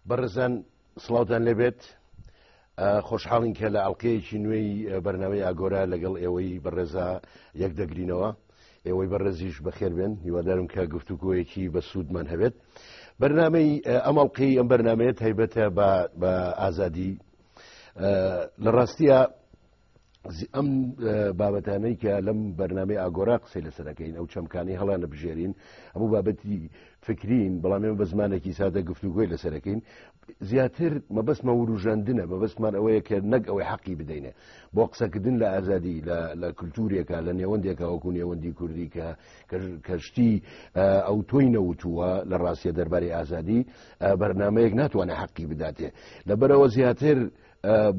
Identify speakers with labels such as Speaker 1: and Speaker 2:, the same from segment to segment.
Speaker 1: بەڕێزان سڵاوتان لێبێت خۆشحاڵین کە لە ئەڵلقەیەکی نوێی بەرناوی ئاگۆرا لەگەڵ ئێوەی بەڕێزا یەک دەگرینەوە ئێوەی بەڕێزیش بەخێربێن هیوادارم کە گفتوگویەکی بە سوودمان هەبێت بەرنمەی ئەمەڵقی ئەم بەرنمەیە تایبەتە بە ئازادی لە ڕاستیە ئەم بابەتانەی کە لەم بەرنامی ئاگۆرا قسەی لەسەرەکەین ئەو چەمکانی هەڵانە بژێرین ئەموو بابەتی فکرین بەڵامێ بە زمانێکی سادە گفتوگوۆی لەسەرەکەین زیاتر مەبەستمە وروژاندنە مەبەستمان ئەوەیە کە نەک ئەوەی حەقی بدەینێ بۆ قسەکردن لە ئازادی لە کللتورێکە لە نێوەندێکە وەکو نێوەندی کوردی کە کەشتی ئەو تۆی نەوتووە لە ڕاستە دەرباری ئازادی بەرنمەیەک ناتوانێت حەقی بداتێ لەبەرەوە زیاتر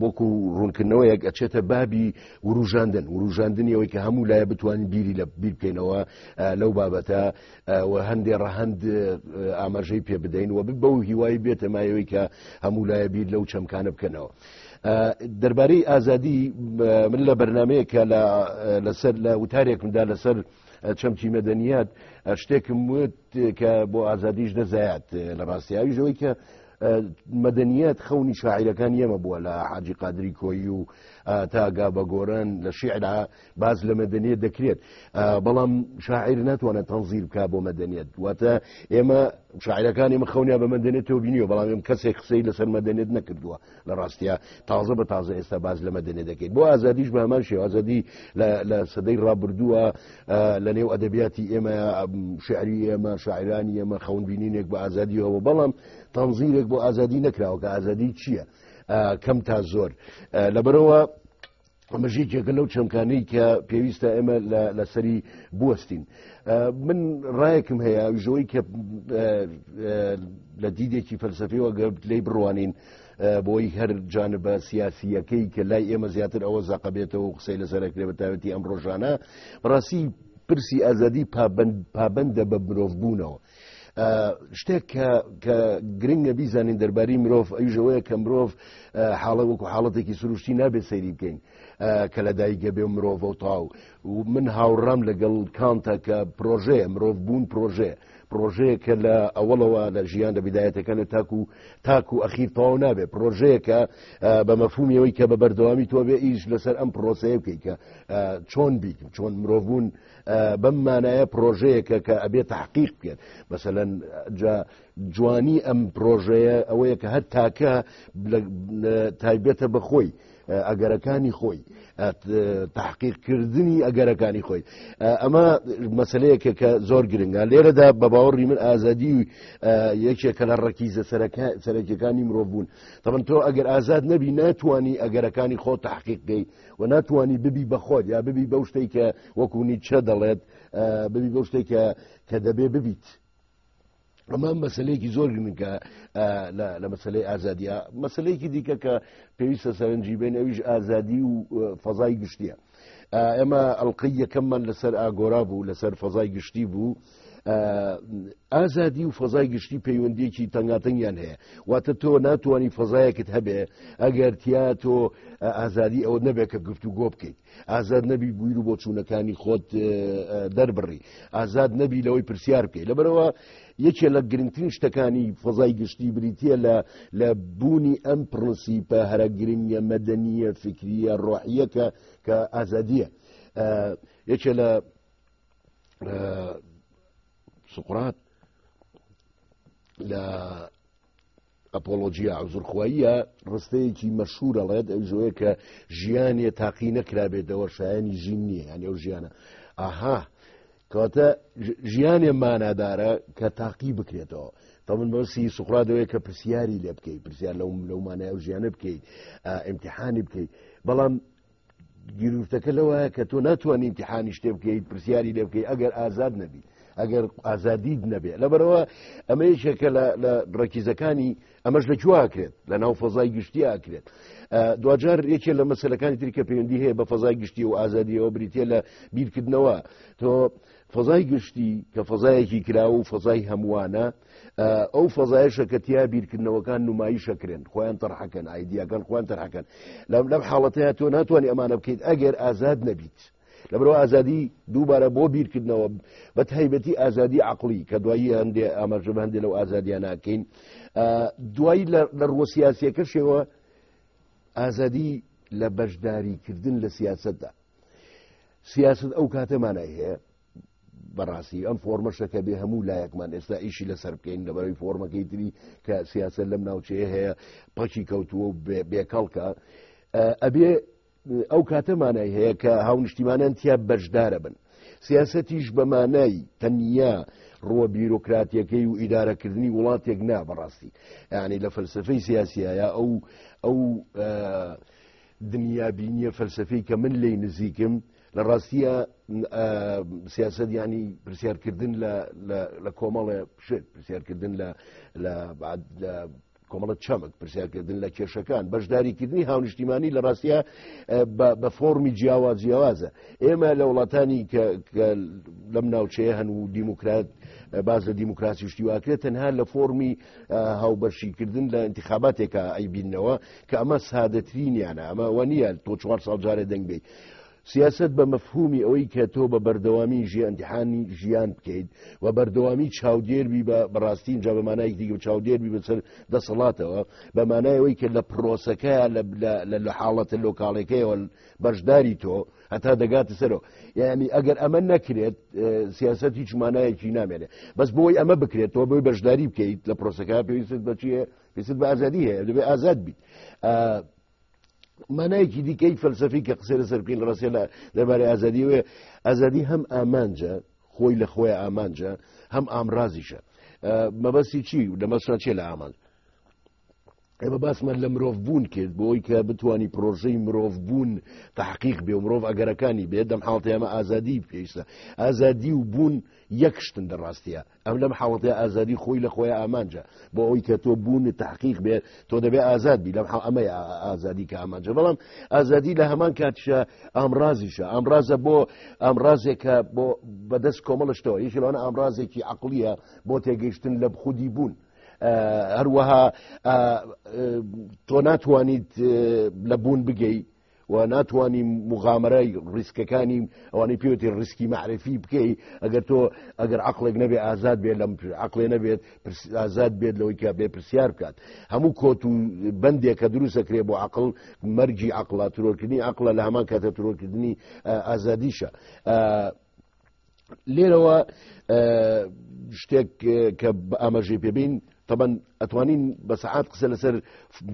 Speaker 1: وەکو ڕوونکردنەوەیەک ئەچێتە بابی وروژاندن وروژاندنیەوەی کە هەموو لایە بتوانین بیری لە بیر بکەینەوە لەو بابەتە هەندێ ڕەهند ئاماژەی پێ بدەین و بە و هیوای بێتە مایەوەی کە هەموو لایە بیر لەو چەمکانە بکەنەوە. دەربارەی ئازادی من لە بەرنمەیە کە لەسەر لە وتارێکمدا لەسەر چەمچی مەدەنیات شتێکم وت کە بۆ ئازادیش دەزایات لە ڕاستیاویژەوەی کە مەدەنیەت خەونی شاعیرەکان یەمە بووە لە حاجی قادری کۆی و تاگا بە گۆران لە شیعرا باز لە مەدەنیت دەکرێت بەڵام شاعیر ناتوانێت تەنزیر بک بۆ مەدەنیت واتە ئێمە شاعرەکانی مە خەونیا بە مەدەنێت و بینیوە بەڵام ئێم کەسێک قسەی لەسەر مەدەنێت نەکردووە لە ڕاستە تازە بە تازە ئێستا باز لە مەدەنێت دەکەیت بۆ ئازادیش بە هەمان شێوازەدی لە سەدەی ڕابردووە لە نێو ئەدەبیاتی ئێمە شعری ئێمە شاعرانی ئێمە خەونبینینێک بە ئازادی هەوە بەڵام تەنزیرێک بۆ ئازادی نەکراوە کە ئازادی چییە کەم تا زۆر لەبەرەوە مەژیکێکە لەو چەمکانەی کە پێویستە ئێمە لەسەری بوەستین من ڕایەکم هەیە ژەوەی کە لە دیدێکی فەلسەفیەوە گەبت لی بڕوانین بۆی هەر جانبە سیاسیەکەی کە لای ئێمە زیاتر ئەوە زەقە بێتەوە و قسەی لەسەرکرێ بە تاوەتی ئەم ڕۆژانە بڕاستی پرسی ئازادی پابندە بە مرۆڤ بوونەوە. شتێک کە گرنگە بیزانین دەرباری مرۆڤ ئەوژەوەیە کە مرۆڤ حاڵە وەکو حاڵەتێکی سروشتی نابێت سەیری بکەین کە لە دایکگە بێ مرۆڤ و تاو و من هاوڕام لەگەڵ کانتە کە پرۆژەیە مرۆڤ بوون پرۆژەیە پڕۆژەیەکە لە ئەوەڵەوە لە ژیان لە بدایەتەکان و تاکو تاک و ئەخیر تەواو نابێت پرۆژەیەکە بە مەفهومیەوەی کە بە بەردەوامی تۆ بێ ئیش لەسەر ئەم پرۆسەیە بکەی کە چۆن بیت چۆن مرۆڤون بەم مانایە پرۆژەیەکە کە ئەبێت تحقیق بکەن مەسەەن جوانی ئەم پرۆژەیە ئەوەیە کە هەر تاکە تایبێتە بەخۆی ئەگەرەکانی خۆی تحقیق کردنی ئەگەرەکانی خۆی ئەمە مەسلەیەکە کە زۆر گرنگە لێرەدا بە باوەڕی من ئازادی و یەکێکە لە ڕەکیزە سەرەکیەکانی مرۆڤ بوون تەمن تۆ ئەگەر ئازاد نەبی ناتوانانی ئەگەرەکانی خۆ تحقیق دەی و ناتوانانی ببی بەخۆت یا ببی بەو شتێکە وەکوونی چە دەڵێت ببی بەو شتێکە کە دەبێ ببیت ئەمە مەسلەیەکی زۆر گرنگە لە مەسلەی ئازادیە مەسلەیەکی دیکە کە پێویستە سەرنجی بێن ئەویش ئازادی و فەزای گشتیە ئەمە ئەڵلقەی یەکەممان لەسەر ئاگۆرا بوو لەسەر فەزای گشتی بوو ئازادی و فەزای گشتی پەیوەندیەکی تەنگاتەنگیان هەیە واتە تۆ ناتوانانی فەزایەکت هەبێ ئەگەر تیا تۆ ئازادی ئەوە نەبێت کە گفتو گۆ بکەیت ئازاد نەبی بویر و بۆچوونەکانی خۆت دەربڕی ئازاد نەبی لەوەی پرسیار بکەی لەبەرەوە یەکێ لە گرنگترین شتەکانی فەزای گشتی بریتە لە لە بوونی ئەم پرنسیپە هەرە گرنگە مەدەنیە فکریە ڕۆحیەکە کە ئازادیە یەکێ لە سقرات لە ئەپۆڵۆجیا عوزرخواییە ڕستەیەکی مەشهور ئەڵێت ئەو ژۆیە کە ژیانێ تاقی نەکرابێتەوە شایانی ژین نییە یان ئەو ژیانە ئاها کەواتە ژیانێ مانادارە کە تاقی بکرێتەوە تا من بەسی سوخرادەوەی کە پرسیاری لێ بکەیت پرسیار لەو لەومانای ئەو ژیانە بکەیت ئیمتحانی بکەیت بەڵام گیرورتەکە لەوایە کە تۆ ناتوانانی امتحانی شتێ بکەیت پرسیاری لێ بکەیت ئەگەر ئازاد نەبی ئەگەر ئازادیت نەبێت لەبەرەوە ئەمە یەکێکە لە ڕێکیزەکانی ئەمەش لە جوواکرێت لە ناو فەزای گشتی ئاکرێت دوجار یەکێ لە مەسلەکانی تری کە پەیوەندی هەیە بە فەزای گشتی و ئازادیەوە بریتە لە بیرکردنەوە تۆ فەزای گشتی کە فەزایەکی کرا و فەزای هەمووانە ئەو فەزایشە کە تیا بیرکردنەوەکان نمایشە کرێن خۆیان تەرحەکەن ئایدیاکان خۆیان تەرحەکەن لەم لەم حاڵەتەیە تۆ ناتوانانی ئەمانە بکەیت ئەگەر ئازاد نەبیت لەبرەوە ئازادی دووبارە بۆ بیرکردنەوە بە تایبەتی ئازادی عقلی کە دوایی هەندێ ئاماژە هەندێ لەو ئازادیان ناکەین دوایی لە ڕوە سیاسەکەشەوە ئازادی لە بەشداریکردن لە سیاستدا سیاست ئەو کاتەمانای هەیە بەڕاستی ئەم فۆرمەشە کە بێ هەموو لایەکمان ئێستا ئیشی لەسەر بکەین لەبەرەوەی فۆرمەکەی تری کە سیاسە لەم ناوچەیە هەیە پەکی کەوتووە و بێکەڵکە ئەبێ ئەو کاتەمانای هەیە کە هاونیشتیمانیان تیا بەشدارە بن سیاسەتیش بەمانای تەنیا ڕوە بیرۆکراتیەکەی و ئیدارەکردنی وڵاتێک نا بەڕاستی یعنی لە فەلسفەی سیاسیە ئەو ئەو دنیا بینیە فەلسفەی کە من لی نزیکم لە ڕاستیە سیاست ینی پرسیارکردن لە کۆمەڵێ شت پرسیارکردن لە کۆمەڵە چەمک پرسیارکردن لە کێشەکان بەشداریکردنی هاونیشتیمانی لە ڕاستە بە فۆمی جیاواز جیاوازە ئێمە لە وڵاتانی کە لەم ناوچەیە هەن و دیموکرات باز لە دیموکراسی شتیواکرێت تەنها لە فۆمی هاوبەرشیکردن لە انتخاباتێکە ئەیبینەوە کە ئەمە سادەترینیانە ئەمە وە نیە تۆ چوار ساڵ جارێ دەنگ بیت سیاسەت بە مەفهومی ئەوەی کە تۆ بە بەردەوامی ژیانتیحانی ژیان بکەیت و بەردەوامی چاودێربی بە بەڕاستین جا بەمانایەکی دیگە چاودێربی بەسەر دەسەڵاتەوە بەمانایەوەی کە لە پرۆسەکە لە حاڵەتە لۆکاڵەکەیەوە بەشداری تۆ هەتا دەگاتە سەرەوە یعنی ئەگەر ئەمە نەکرێت سیاست هیچ مانایەکی نامێنێت بەس بۆی ئەمە بکرێت تۆ بۆی بەشداری بکەیت لە پرۆسەکە پێویست بەچیە پێست بە ئازادی هەیە دەبێت ئازاد بیت مانایەکی دیکەی فەلسەفی کە قسە لە سەرکین ڕاستە لە دەربارەی ئازادیوێ ئازادی هەم ئامانجە خۆی لە خۆی ئامانجە هەم ئامرازیشە مەبەستی چی لە مەسان چێ لە ئامانج ئێمە باسمان لە مرۆڤ بوون کرد بۆی کە بتانی پرۆژەی مرۆڤ بوون تحقیق بێ و مرۆڤ ئەگەرەکانی بێ دەم حاڵتە ئەمە ئازادی پێویستە ئازادی و بوون یەکشتن دەڕاستە ئەم لەم حاڵەتەی ئازادی خۆی لە خۆی ئامانجە بۆ ئەوەی کە تۆ بوون تحقیق بێت تۆ دەبێت ئازاد بی لەم ئەمەی ئازادی کە ئامانجە بەڵام ئازادی لە هەمان کاتشە ئامرازیشە ئامرازە بۆ ئامرازێکە بۆ بەدەست کۆمەڵشتەوە یەکی لەوانە ئامرازێکی عقلیە بۆ تێگەیشتن لە خودی بوون هەروەها تۆ ناتوانیت لە بوون بگەیت و ناتوانین مغامرەی ڕیسکەکانی ئەوانەی پێوتی ڕیسکی معرفی بکەی ئەگەر تۆ ئەگەر عقلێک نەبێ ئازاد بێت لەم عقلێ نەبێت ئازاد بێت لەوەی کە بێ پرسیار بکات هەموو کۆت و بەندێک کە دروستەکرێ بۆ عقل مەرجی عقللا ترۆرکردنی عقلە لە هەمان کاتە ترۆرکردنی ئازادیشە لێرەوە شتێک کە ئاماژەی پێبین طبعاً ئەتوانین بە سەعات قسە لەسەر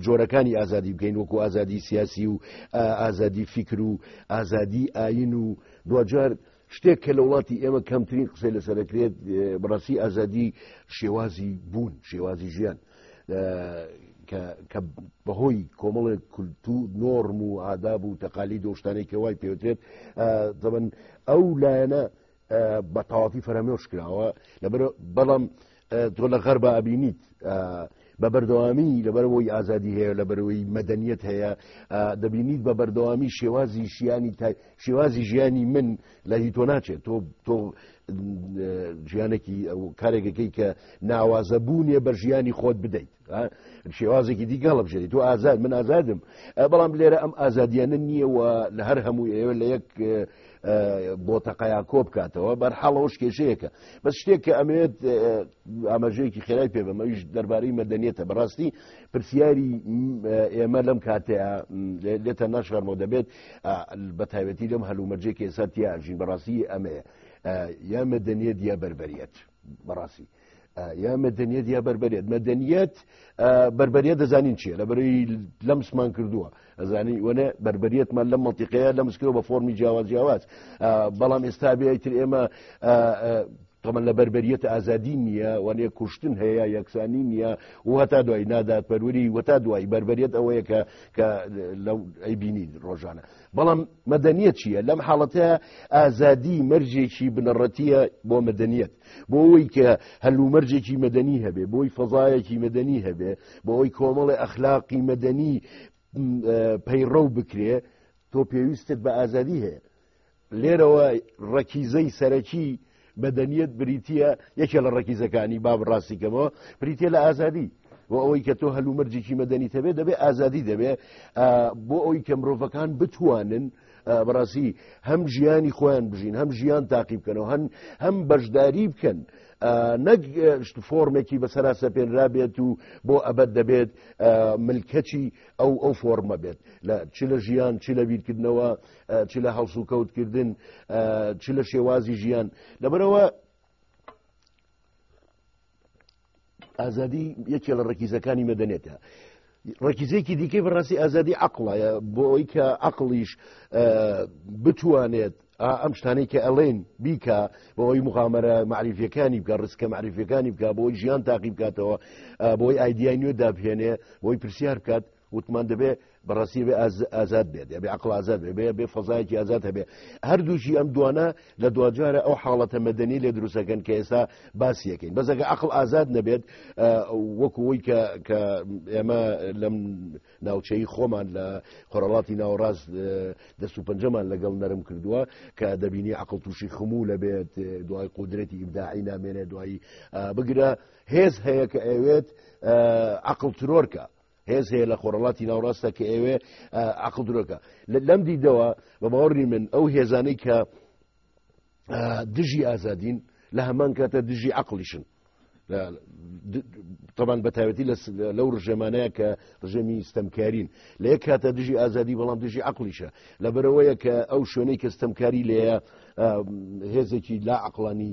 Speaker 1: جۆرەکانی ئازادی بکەین وەکو ئازادی سیاسی و ئازادی فیکر و ئازادی ئاین و دوجار شتێک کە لە وڵاتی ئێمە کەمترین قسەی لەسەرکرێت بڕاستی ئازادی شێوازی بوون شێوازی ژیان کە بەهۆی کۆمەڵێک کولتو نۆرم و ئاداب و تەقالی دۆشتانی کە وای پێوترێت دەبن ئەو لایەنە بە تەواتی فەرەمێش کراوە لەبەر بەڵام تۆ لە غەر بە ئەبینیت بە بەردەوامی لەبەرەوەی ئازادی هەیە لە بەرەوەی مەدەنیت هەیە دەبینیت بە بەردەوامی شێوازی شیانی شێوازی ژیانی من لە هی تۆ ناچێت تۆ تۆ ژیانێکی ئەو کارێکەکەی کە ناوازە بوونیە بە ژیانی خۆت بدەیت شێوازێکی دیگە هەڵە بژێت تۆ ئازاد من ئازادم بەڵام لێرە ئەم ئازادیانە نییە و لە هەر هەموو ئێوە لە یەک بۆ تەقایا کۆ بکاتەوە بەرحاڵەوەش کێشەیەەکە بەس شتێک کە ئەمێت ئاماژەیەکی خێرای پێ بەمەویش دەربارەی مەدەنیێتە بەڕاستی پرسیاری ئێمە لەم کاتەیە لێتە ناشارمەوە دەبێت بەتایبەتی لەم هەلومەرجێ کە ئێستا تیا ئەژین بەڕاستی ئەمەیە یا مەدەنیەت یا بەربەریەت بەڕاستی یا مەدەنیەت یا بەربەرێت مەدەنیەت بەربەریەت دەزانین چیە لە بەری لەمسمان کردووە ئەزانی وەە بەربەریەتمان لەم مەتیقەیە لەمسکرەوە بە فۆمی جیاواز جیاواز بەڵام ئێستا بێتر ئێمە تەمەن لە بەربەریەت ئازادی نییە وەێ کوشتن هەیە یەکسانی نییە و هەتا دوای نادات پەروەری وەتا دوای بەربەریەت ئەوەیە کە کە لەو ئەیبینین ڕۆژانە بەڵام مەدەنیە چییە لەم حاڵەتە ئازادی مەرجێکی بنەڕەتیە بۆ مەدەنیەت بۆ ئەوی کە هەلومەرجێکی مەدەنی هەبێ بۆی فەزایەکی مەدەنی هەبێ بۆ ئەوی کۆمەڵی ئەخلاقی مەدەنی پەیڕە و بکرێ تۆ پێویستت بە ئازادی هەیە لێرەوە ڕەکیزەی سەرەکی مەدەنیەت بریتە یەکێ لە ڕەکیزەکانی باب ڕاستی کەمەوە بریتە لە ئازادی و ئەوەی کە تۆ هەلومەرجێکی مەدەنی تەبێت دەبێت ئازادی دەبێت بۆ ئەوی کە مرۆڤەکان بتوانن بەڕاستی هەم ژیانی خۆیان بژین هەم ژیان تاقی بکەنەوە هەن هەم بەشداری بکەن نەک فۆرمێکی بە سەراسە پێنرا بێت و بۆ ئەبەت دەبێت ملکەچی ئەو ئەو فۆرمە بێت لە چ لە ژیان چ لە بیرکردنەوە چ لە هەڵسوکەوتکردن چ لە شێوازی ژیان لەبەرەوە ئازادی یەکێ لە ڕکیزەکانی مەدەنێتە ڕکیزێکی دیکەی بەڕاستی ئازادی عقڵایە بۆ ئەوی کە عقلیش بتوانێت ئەم شتانەی کە ئەڵێن بیکە بۆ ئەوی مغامرە معریفەکانی بکە ڕسکە معریفەکانی بکە بۆی ژیان تاقی بکاتەوە بۆی ئایدیای نوێ دابهێنێ بۆی پرسیار بکات وتمان دەبێ بەڕاستی بێ ئازاد بێت دەبێ عقل ئازاد بێ بێ فەزایەکی ئازاد هەبێ هەردووشی ئەم دوانە لە دواجارە ئەو حاڵەتە مەدەنی لێ دروستەکەن کە ئێستا باسیەکەین بەزەکە عقل ئازاد نەبێت وەکوەوەی کە کە ئێمە لەم ناوچەی خۆمان لە خۆرەڵاتی ناوەڕاست دەست و پەنجەمان لەگەڵ نەرم کردووە کە دەبینی عقل تووشی خموو لەبێت دوای قودرەتی ئیبداعی نامێنێ دوایی بگرە هێز هەیە کە ئەوێت عقل ترۆرکە هێز هەیە لە خۆرەڵاتی ناوڕاستە کە ئێوێ عقل درۆکە لەم دیدەوە بە باوەڕی من ئەو هێزانەی کە دژی ئازادین لە هەمان کاتە دژی عقلیشن طبعاً بەتاوەتی لەو ڕژێمانەیە کە ڕژێمی ستەمکارین لە یەک کاتە دژی ئازادی بەڵام دژی عقلیشە لە بەرەوەیە کە ئەو شوێنەی کە ستەمکاری لێە هێزێکی لا عقلانی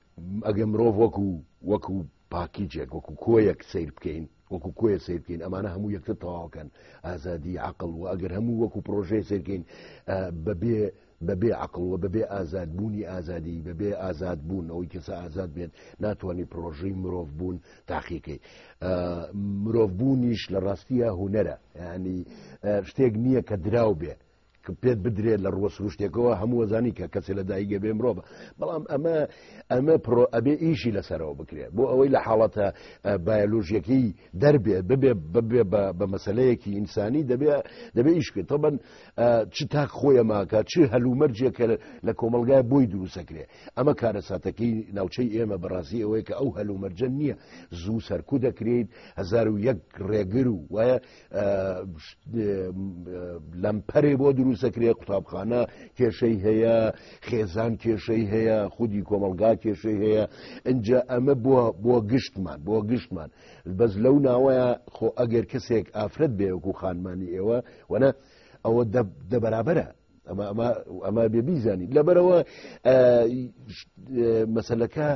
Speaker 1: ئەگەر مرۆڤ وەکو وەکو پاکیجێک وەکو کۆیەک سیر بکەین وەکو کۆیە سیر بکەین ئەمانە هەموو یەکتر تەواوکەن ئازادی عقل و ئەگەر هەموو وەکو پرۆژەی سیرکەین بەبێ بەبێ عقل و بەبێ ئازاد بوونی ئازادی بەبێ ئازاد بوون ئەوەی کەسە ئازاد بێت ناتوانانی پرۆژەی مرۆڤ بوون تاقیکەی مرۆڤ بوونیش لە ڕاستیە هوەرە ینی شتێک نییە کە دراو بێ پێت بدرێت لە ڕوە سروشتێکەوە هەموو وەزانی کە کەسێ لە دایگە بێ مرۆڤ بەڵام ئەمە ئەمە پرۆ ئەبێ ئیشی لەسەرەوە بکرێت بۆ ئەوەی لە حاڵەتە بایلۆژیەکەی دەربێت ببێ ببێ بە مەسلەیەکی ئینسانی دەبێ دەبێ ئیشکرێت تەبەن چ تاک خۆیە ماکە چ هەلومەرجێکە لە کۆمەلگای بۆی دروستەکرێ ئەمە کارەساتەکەی ناوچەی ئێمە بەڕاستی ئەوەیە کە ئەو هەلومەرجە نییە زوو سەرکو دەکرێت هزار و یەک ڕێگر و وایە لەمپەرێ بۆ دروستەکرێ قوتابخانە کێشەی هەیە خێزان کێشەی هەیە خودی کۆمەلگا کێشەی هەیە ئەجا ئەمە بووە بۆ گشتمان بۆ گشتمان بەس لەو ناوەیە خۆ ئەگەر کەسێک ئافرەت بێوەکو خانمانی ئێوە وەە ئەوە دەبرابرە ئەمە بێ بیزانین لەبەرەوە مەسلەکە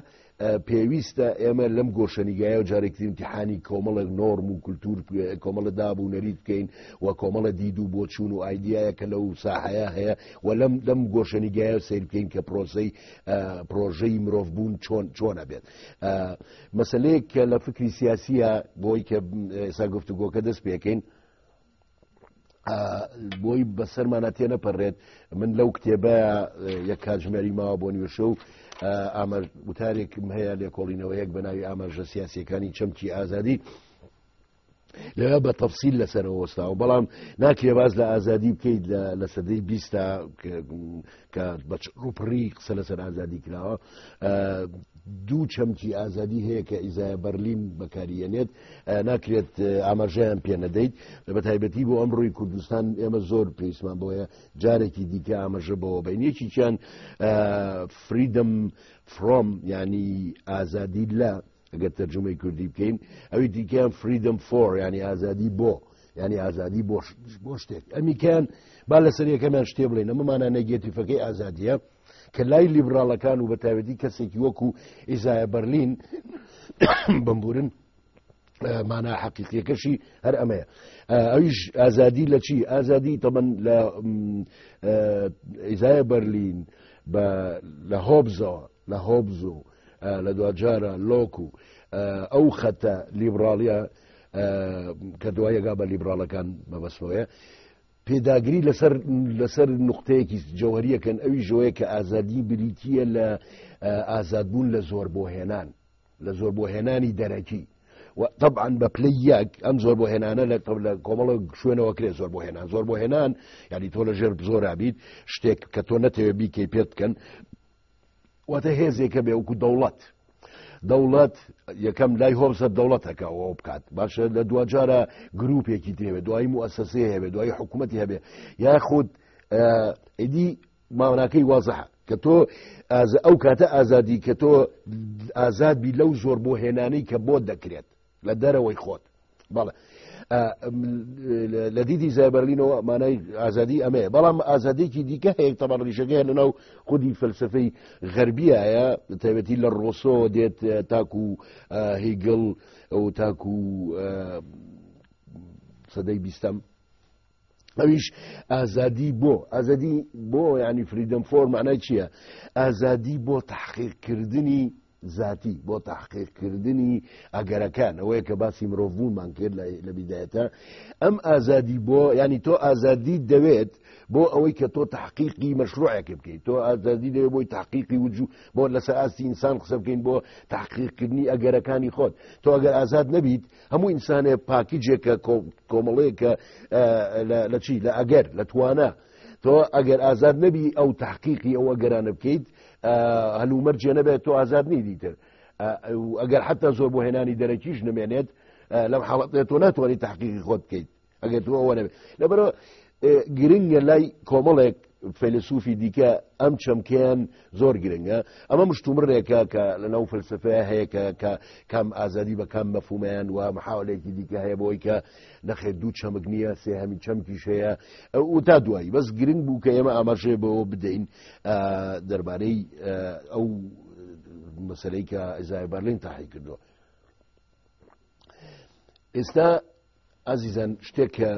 Speaker 1: پێویستە ئێمە لەم گۆشەنیگایە و جارێکتر امتحانی کۆمەڵێک نۆرم و کولتور کۆمەڵە داب و نەریت بکەین و کۆمەڵە دید و بۆچوون و ئایدایە کە لەو ساحەیە هەیە و لەم لەم گۆشەنیگایە سیر بکەین کە پرۆسی پرۆژەی مرۆڤ بوون چۆن چۆنە بێت مەسلەیەک کە لە فکری سیاسیە بۆی کە ئێسا گفتوگۆکە دەست پێکەین بۆی بەسەرمانە تێ نەپەڕێت من لەو کتێبە یەک کاتژمێری ماوە بۆ نیوشە و ئامە وتارێکم هەیە لێکۆڵینەوە یەک بە ناوی ئاماژە سیاسەکانی چەمکی ئازادی لەوێ بە تەفسیل لەسەرەوە وەستاوە بەڵام ناکرێ باز لە ئازادی بکەیت لە سەدەی بیستا کە بە ڕوپڕی قسە لەسەر ئازادی کراوە دوو چەمکی ئازادی هەیە کە ئیزای بەرلین بەکاریەنێت ناکرێت ئاماژەیان پێ نەدەیت لە بە تایبەتی بۆ ئەم ڕووی کوردستان ئێمە زۆر پێیسمان بۆیە جارێکی دیکە ئاماژە بەوە بینێکیان فریدم فرۆم ینی ئازادی لە ئەگەر تەرجمەی کوردی بکەین ئەوی دیکەیان فریدم فۆر ینی ئازادی بۆ ینی ئازادی بۆ شتێک ئەمیکەیان با لەسەر یەکەمیان شتێ بڵێن ئەمەمانە نەگەتیفەکەی ئازادیە کە لای لیبراڵەکان و بەتاوێتی کەسێکی وەکو ئیزایە بەرلین بمبورن مانا حەقیقیەکەشی هەر ئەمەیە ئەویش ئازادی لە چی ئازادی تەمەن لە ئیزایە بەرلین لە هۆبزەوە لە هۆبز و لە دواجارە لۆک و ئەو خەتە لیبراڵە کە دوایەگا بە لیبراڵەکان مەبەستەوەە پێداگری لەسەر لەسەر نقطەیەکی جەوەریەکەن ئەوی ژۆیە کە ئازادی بریتە لە ئازادبوون لە زۆر بۆ هێنان لە زۆر بۆ هێنانی دەرەکی طبعاان بە پلی یەک ئەم زۆر بۆ هێنانە لە قبل لە کۆمەڵە شوێنەوە کرێ زۆر بۆ هێنان زۆر بۆ هێنان یعنی تۆ لە ژێر زۆرابیت شتێک کە تۆ نەتەوێ بیکەی پێت بکەن واتە هێزێکە بێ وەکو دەوڵەت دەوڵەت یەکەم لای هۆبزە دەوڵەتەکە ئەوە بکات باشە لە دوجارە گرروپێکی دێوێت دوایی موسسێ هەبێ دوایی حکوومەتی هەبێ یاخود ئیدی ماوناکەی وازە کە تۆ ئەو کاتە ئازادی کە تۆ ئازاد بی لەو زۆر بۆ هێنانەی کە بۆ دەکرێت لە دەرەوەی خۆت بەڵێ لە دیدی زایبەرلینەوە مانای ئازادی ئەمەیە بەڵام ئازادێکی دیکە هەیە تەبەر ڕیشەکەیان لەناو خودی فەلسفەی غەربیایە تایبەتی لە ڕۆسۆ دێت تاکو هیگل ئەو تاکو سەدەی بیستەم ئەویش ئازادی بۆ ئازادی بۆ ینی فریدەم فۆر مانای چییە ئازادی بۆ تحقیقکردنی زاتی بۆ تاحقیق کردنی ئەگەرەکان ئەوەیە کە باسی مرۆڤبوومان کرد لە بیدایەتە ئەم ئازادی بۆ ینی تۆ ئازادی دەوێت بۆ ئەوەی کە تۆ تحقیقی مەشروعەکە بکەیت تۆ ئازادی دەوێت بۆی تحقیقی وجو بۆ لەسەر ئاستی ئینسان قسە بکەین بۆ تحقیقکردنی ئەگەرەکانی خۆت تۆ ئەگەر ئازاد نەبیت هەموو ئینسانێ پاکیجێکە کۆمەڵەیەکە لە چی لە ئەگەر لە توانە تۆ ئەگەر ئازاد نەبی ئەو تحقیقی ئەو ئەگەرانە بکەیت هەلومەر جێ نەبێت تۆ ئازاد نی دیتر ئەگەر حتا زۆر بۆ هێنانی دەرەکیش نمێنێت لەم حاڵەتێت تۆ ناتوانانی تحقیقی خۆت بکەیت ئەگەر تۆ ئەوە نەبێت لەبەرەوە گرنگە لای کۆمەڵێک فەیلسوفی دیکە ئەم چەمکیان زۆر گرنگە ئەمە مشتومڕێکە کە لەناو فلسفەیە هەیە کە کە کام ئازادی بە کام مەفومیان و محاولێکی دیکە هەیە بۆی کە نەخێ دوو چەمک نییە سێ هەمی چەمکیش هەیە ئەو تا دوایی بەس گرنگ بوو کە ئێمە ئاماژێ بەوە بدەین دەربارەی ئەو مەسلەی کە ئەزای بەرلین تاحی کردووە ئێستا ئازیزان شتێک کە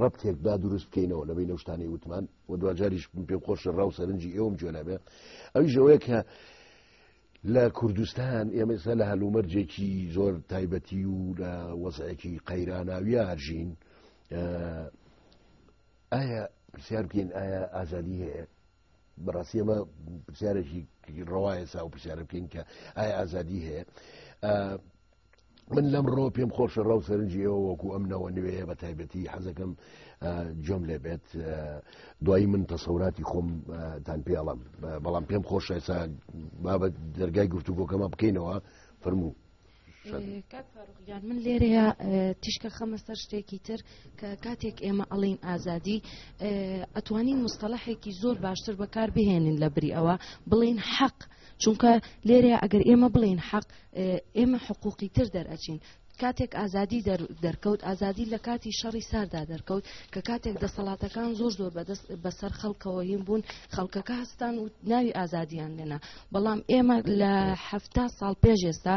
Speaker 1: ڕەبتێک با دروست بکەینەوە لە بین نەشتانی وتمان و دواجاریش پێ خۆش ڕا و سەرنجی ئێوم جوێنابێ ئەوی ژەوەیە کە لە کوردستان ئێمەسا لە هەلومەرجێکی زۆر تایبەتی و لە وەزایەکی قەیراناویە هەرژین ئایا پرسیار بکەین ئایا ئازادی هەیە بەڕاستی ئەمە پرسیارێکی ڕواایە سا و پرسیارە بکەین کە ئایا ئازادی هەیە من لەم ڕۆ پێم خۆشە ڕاو سەرنجی ئێوە وەکو ئەم نەوە نوێیە بە تایبەتی حەزەکەم جۆم لێ بێت دوایی من تەسەوراتی خۆم تان پێڵم بەڵام پێم خۆشە ئێسا بابەت دەرگای گفتوگۆکەمە بکەینەوە فەرموو.
Speaker 2: یان من لێرەیە تیشکە خەمە سەر شتێکی تر کە کاتێک ئێمە ئەڵین ئازادی ئەتوانین مستەلحێکی زۆر باشتر بەکار بهێنین لە بری ئەوە بڵین حەق چونکە لێرەیە ئەگەر ئێمە بڵین حەق ئێمە حقوقی تر دەرئەچین کاتێک ئازادی دەرکەوت ئازادی لە کاتی شەڕی ساردا دەرکەوت کە کاتێک دەسەڵاتەکان زۆر زۆر بەدەست بەسەر خەڵکەوە هیم بوون خەڵکەکە هەستان و ناوی ئازادیان لێنا بەڵام ئێمە لە هەفتا ساڵ پێش ئێستا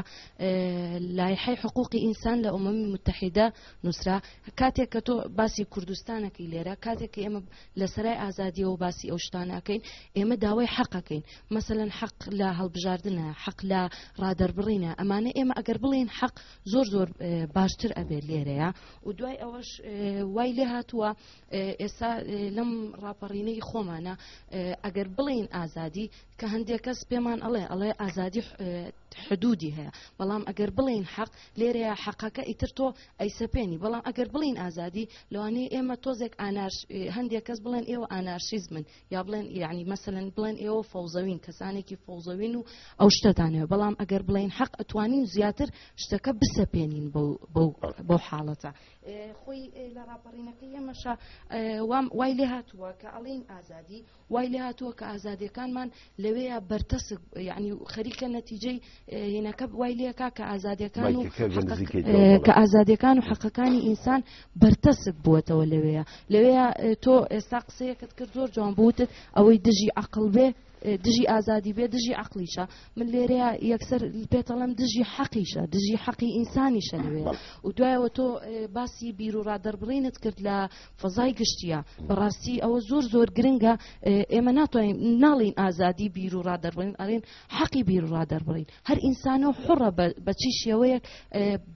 Speaker 2: لایحی حقوقی ئینسان لە ئۆمەمی متحیدە نووسرا کاتێک کە تۆ باسی کوردستانەکەی لێرە کاتێک کە ئێمە لە سەرای ئازادیەوە باسی ئەو شتانەکەین ئێمە داوای حەقەکەین مەسەەن حەق لە هەڵبژاردنە حەق لە ڕادەربڕینە ئەمانە ئێمە ئەگەر بڵێن حەق زۆر زۆر باشتر ئەبێت لێرەیە و دوای ئەوەش وای لێ هاتووە ئێستا لەم ڕاپەڕینەی خۆمانە ئەگەر بڵین ئازادی کە هەندێک کەس پێمان ئەڵێ ئەڵێ ئازادی حدودی هەیە بەڵام ئەگەر بڵین حەق لێرەیە حەقەکە ئیتر تۆ ئەیسەپێنی بەڵام ئەگەر بڵین ئازادی لەوانەیە ئێمە تۆزێک ئانارش هەندێک کەس بڵێن ئێوە ئانارشیزمن یا بڵێن یعنی مەسەن بڵێن ئێوە فەوزەوین کەسانێکی فەوزەوین و ئەو شتەدانەوە بەڵام ئەگەر بڵین حەق ئەتوانین زیاتر شتەکە بسەپێنین بۆ حاڵەتە خۆی لە ڕاپەڕینەکەی ئێمەشە وام وای لێ هاتووە کە ئەڵین ئازادی وای لێهاتووە کە ئازادیەکانمان لەوەیە بەرتەسک یعنی خەریکە نەتیجەی هینەکە وای لێکا کە ئازادیەکان و کە ئازادیەکان و حەقەکانی ئینسان بەرتەسک بووەتەوە لەوەیە لەوەیە تۆ ئێستا قسەیەکت کرد زۆر جوان بوتت ئەوەی دژی عقل بێ دژی ئازادی بێ دژی عقلیشە من لێرەیە یەکسەر پێتەڵم دژی حەقیشە دژی حەقی ئینسانیشە لەوێ و دوایەوە تۆ باسی بیر و ڕادەربڕینت کرد لە فەزای گشتیە بەڕاستی ئەوە زۆر زۆر گرنگە ئێمە ناتوانین ناڵین ئازادی بیر و ڕادەربڕین ئەڵێن حەقی بیر و ڕادەربڕین هەر ئینسانە و حڕە بەچی شێوەیەک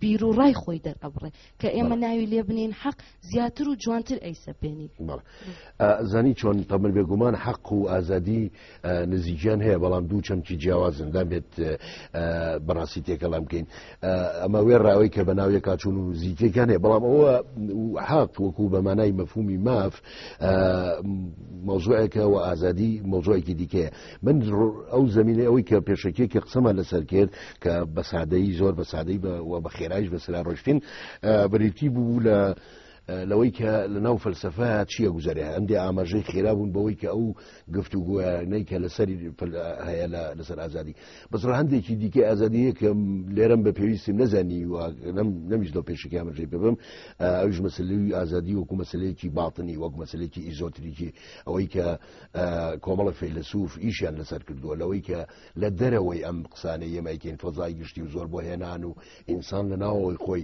Speaker 2: بیر و ڕای خۆی دەرئەبڕێ کە ئێمە ناوی لێ بنین حەق زیاتر و جوانتر ئەیسەپێنین
Speaker 1: زانی چۆن تەمر بێگومان حەق و ئازادی نزیکیان هەیە بەڵام دوو چەمکی جیاوازن دەبێت بەڕاستی تێکەڵام بکەین ئەمە وێ ڕاوی کە بەناوی کاچون و زیکەکان هەیە بەڵام ئەوە حاق وەکو بە مانای مەفهومی ماف مۆزوعێکە و ئازادی مۆزۆێکی دیکەیە من ئەو زمینە ئەوەی کە پێشەکی کە قسەمان لەسەر کرد کە بە سادەی زۆر بە سادەی بە خێرایش بەسرا ڕۆشتین بریتی بوو لە لەوەی کە لە ناو فەلسفەیە چییە گوزارێ هەندێ ئاماژەی خێرا بوون بەوەی کە ئەو گفت و گویانەی کە لەسەری هەیە لەسەر ئازادی بەسڕ هەندێکی دیکە ئازادیە کە لێرم بە پێویستیم نەزانی و نەمیش لە پێشکی ئاماژەی ببم ئەوش مەسلوی ئازادی وەکو مەسلەیەکی باڵتنی وەک مەسلێکی ئیزۆتریکی ئەوەی کە کۆمەڵە فەیلسوف ئیشیان لەسەر کردووە لەوەی کە لە دەرەوەی ئەم قسانەی یەمایکەین فەزای گشتی و زۆر بۆ هێنان و ئینسان لە ناوەوەی خۆی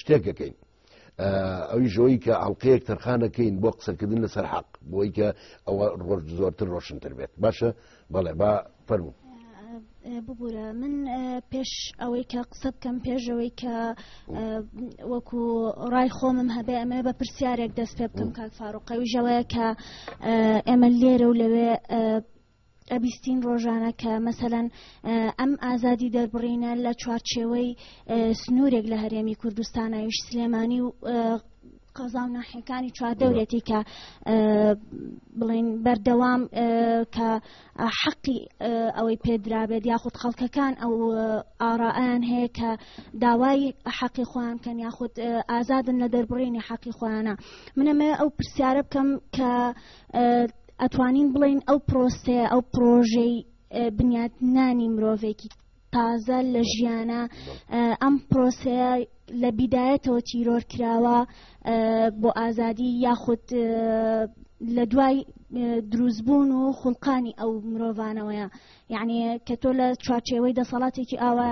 Speaker 1: شتێک دەکەین ئەوی ژۆی کە ئەڵلقەیەک تەرخانەکەین بۆ قسەکردن لەسەر حەق بۆی کە ئەوە ڕۆژ زۆرتر ڕۆشنتر بێت باشە بەڵێ با فەرمو
Speaker 3: ببوورە من پێش ئەوەی کە قسە بکەم پێشەوەی کە وەکو ڕای خۆمم هەبێ ئەمە بە پرسیارێک دەست پێ بکەم کاک فاروقەویژەوەیە کە ئێمە لێرە و لەوێ ئەبیستین ڕۆژانە کە مەسەەن ئەم ئازادی دەربڕینە لە چوارچێوەی سنوورێک لە هەرێمی کوردستانەویش سلێمانی و قەزا و ناحەکانی چواردەورێتی کە بڵین بەردەوام کە حەقی ئەوەی پێدرابێت یاخود خەڵکەکان ئەو ئاڕائیان هەیە کە داوای حەقی خۆیان کەن یاخود ئازادن لە دەربڕینی حەقی خۆیانە منەمە ئەو پرسیارە بکەم کە ئەتوانین بڵێین ئەو پرۆسەیە ئەو پرۆژەی بنیاتنانی مرۆڤێکی تازە لە ژیانە ئەم پرۆسەیە لە بیدایەتەوە تیرۆر کراوە بۆ ئازادی یاخود لە دوای دروستبوون و خولقانی ئەو مرۆڤانەوەیە یعنی کە تۆ لە چوارچێوەی دەسەڵاتێکی ئاوا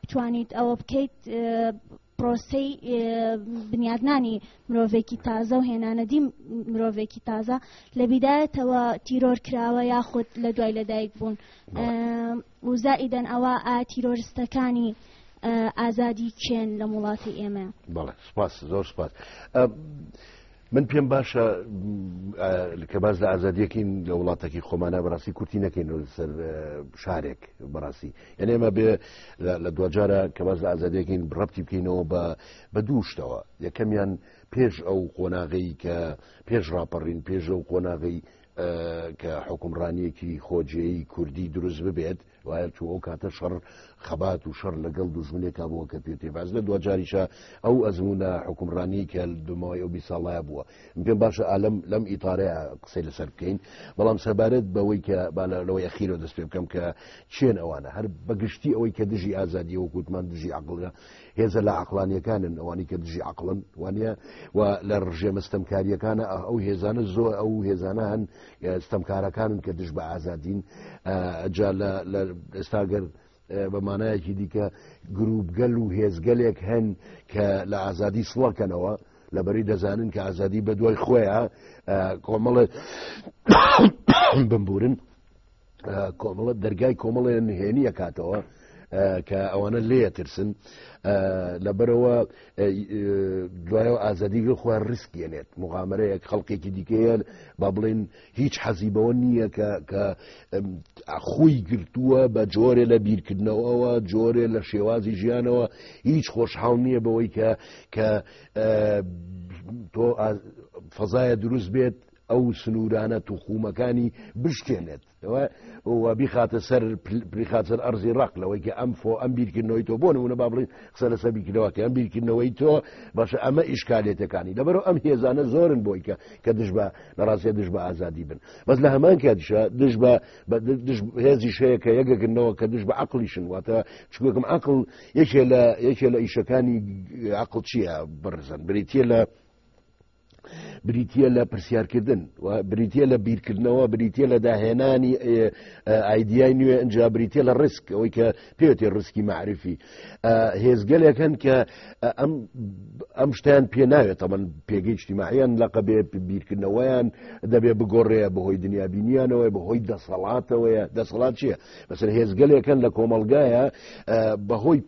Speaker 3: بتوانیت ئەوە بکەیت پرۆسەی بنیادنانی مرۆڤێکی تازە و هێنانەدی مرۆڤێکی تازە لە بیدایەتەوە تیرۆر کراوە یاخود لە دوای لەدایک بوون وزائیدەن ئەوە ئا تیرۆرستەکانی ئازادی چێن لە وڵاتی ئێمە بەڵێ سپاس
Speaker 1: زۆر سپاس من پێم باشە کە باز لە ئازادیەکەین لە وڵاتەکی خۆمانە بەڕاستی کورتی نەکەین سەر شارێک بەڕاستی یعنی ئێمە بێ لە دوجارە کە باز لە ئازادیەکەین ڕپتی بکەینەوە بە بە دووشتەوە یەکەمیان پێش ئەو قۆناغی کە پێش ڕاپەڕین پێش ئەو قۆناغی کە حکومڕانیەکی خۆجێی کوردی دروست ببێت وایە چوو ئەو کاتە شەڕ خەبات و شەڕ لەگەڵ دوژمنێکا بووە کە پێ تێباز لە دوجاریشە ئەو ئەزمونە حکومڕانی کە دمەوەی ئەو بیساڵایە بووە پێ باشە ئالم لەم ئیتارەیە قسەی لەسەر بکەین بەڵام سەبارەت بەوەی کە بالەوەی ئەخیرەوە دەست پێ بکەم کە چێن ئەوانە هەر بەگشتی ئەوەی کە دژی ئازادی وەکووتمان دژی عقلگە هێزە لا عقلانیەکانن ئەوانی کە دژی عقلن وانە و لە ڕژێمە ستەمکاریەکانە ئەو هێزانە زۆر ئەو هێزانە هەن ستەمکارەکانن کە دژ بە ئازادین جا لە ئێستاگەر بە مانایەکی دیکە گروپگەل و هێزگەلێک هەن کە لە ئازادی سڵەکەنەوە لەبەری دەزانن کە ئازادی بە دوای خۆیان کۆمەڵێ بمبورن کۆمەڵە دەرگای کۆمەڵێ نهێنیە کاتەوە کە ئەوانە لێە ترسن لەبەرەوە دوایەوە ئازادیگە خۆیان ڕسکێنێت مغامرەیەک خەڵکێکی دیکەیە با بڵێن هیچ حەزی بەوە نییە کە کە خۆی گرتووە بە جۆرێ لە بیرکردنەوەەوە جۆرێ لە شێوازی ژیانەوە هیچ خۆشحاڵ نییە بەوەی کە کە تۆ فەزایە دروست بێت ئەو سنوورانە توخومەکانی بشکێنێت و بیخاتە سەر پلیخاتسەر ئەرزی ڕق لەوەی کە ئەم فۆ ئەم بیرکردنەوەی تۆ بۆ نمونە با بڵین قسە لەسەر بیرکردنەوەکە ئەم بیرکردنەوەی تۆ باشە ئەمە ئیشکالێتەکانی لەبەرەوە ئەم هێزانە زۆرن بۆی کە کە دژ بە لە ڕاستە دژ بە ئازادی بن بەس لە هەمان کاتیشە دژ بە هێزی شەیە کە یەکەکردنەوە کە دژ بە عقلیشن واتە چکوێکم عقل یەکێ لە یەکێ لە ئیشەکانی عقل چییە بڕزن بریتە لە بریتە لە پرسیارکردن و بریتە لە بیرکردنەوە بریتە لە داهێنانی ئایدیای نوێ ئەجا بریتە لە ڕسک ئەوەی کە پێێتی ڕسکی معرفی هێزگەلێکن کە ئەم ئەم شتیان پێ ناوێت تەمەن پێگەی شتیماعیان لەقە بێ بیرکردنەوەیان دەبێ بگۆڕەیە بەهۆی دنیا بینیانەوە بەهۆی دەسەڵاتەوەیە دەسەڵات چیە بەسەر هێزگەلێکن لە کۆمەلگایە بەهۆی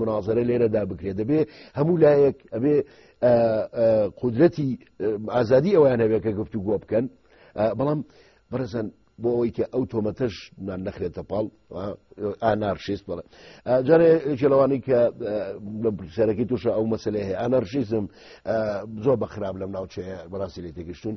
Speaker 1: منازرە لێرە دا بکرێت دەبێ هەموو لایەک ئەبێ قدرەتی ئازادی ئەویان هەبێت کە گفتو گۆ بکەن بەڵام بەرەزان بۆ ئەوەی کە ئەو تۆمەتەش نان نەخرێتە پاڵ ئانارشیست بڵێ جارێ جلوانی کە لە پرسیارەکەی تووشە ئەو مەسلێ هەیە ئانارشیزم زۆر بە خراپ لەم ناوچەیە بەڕاستی لێ تێگەشتون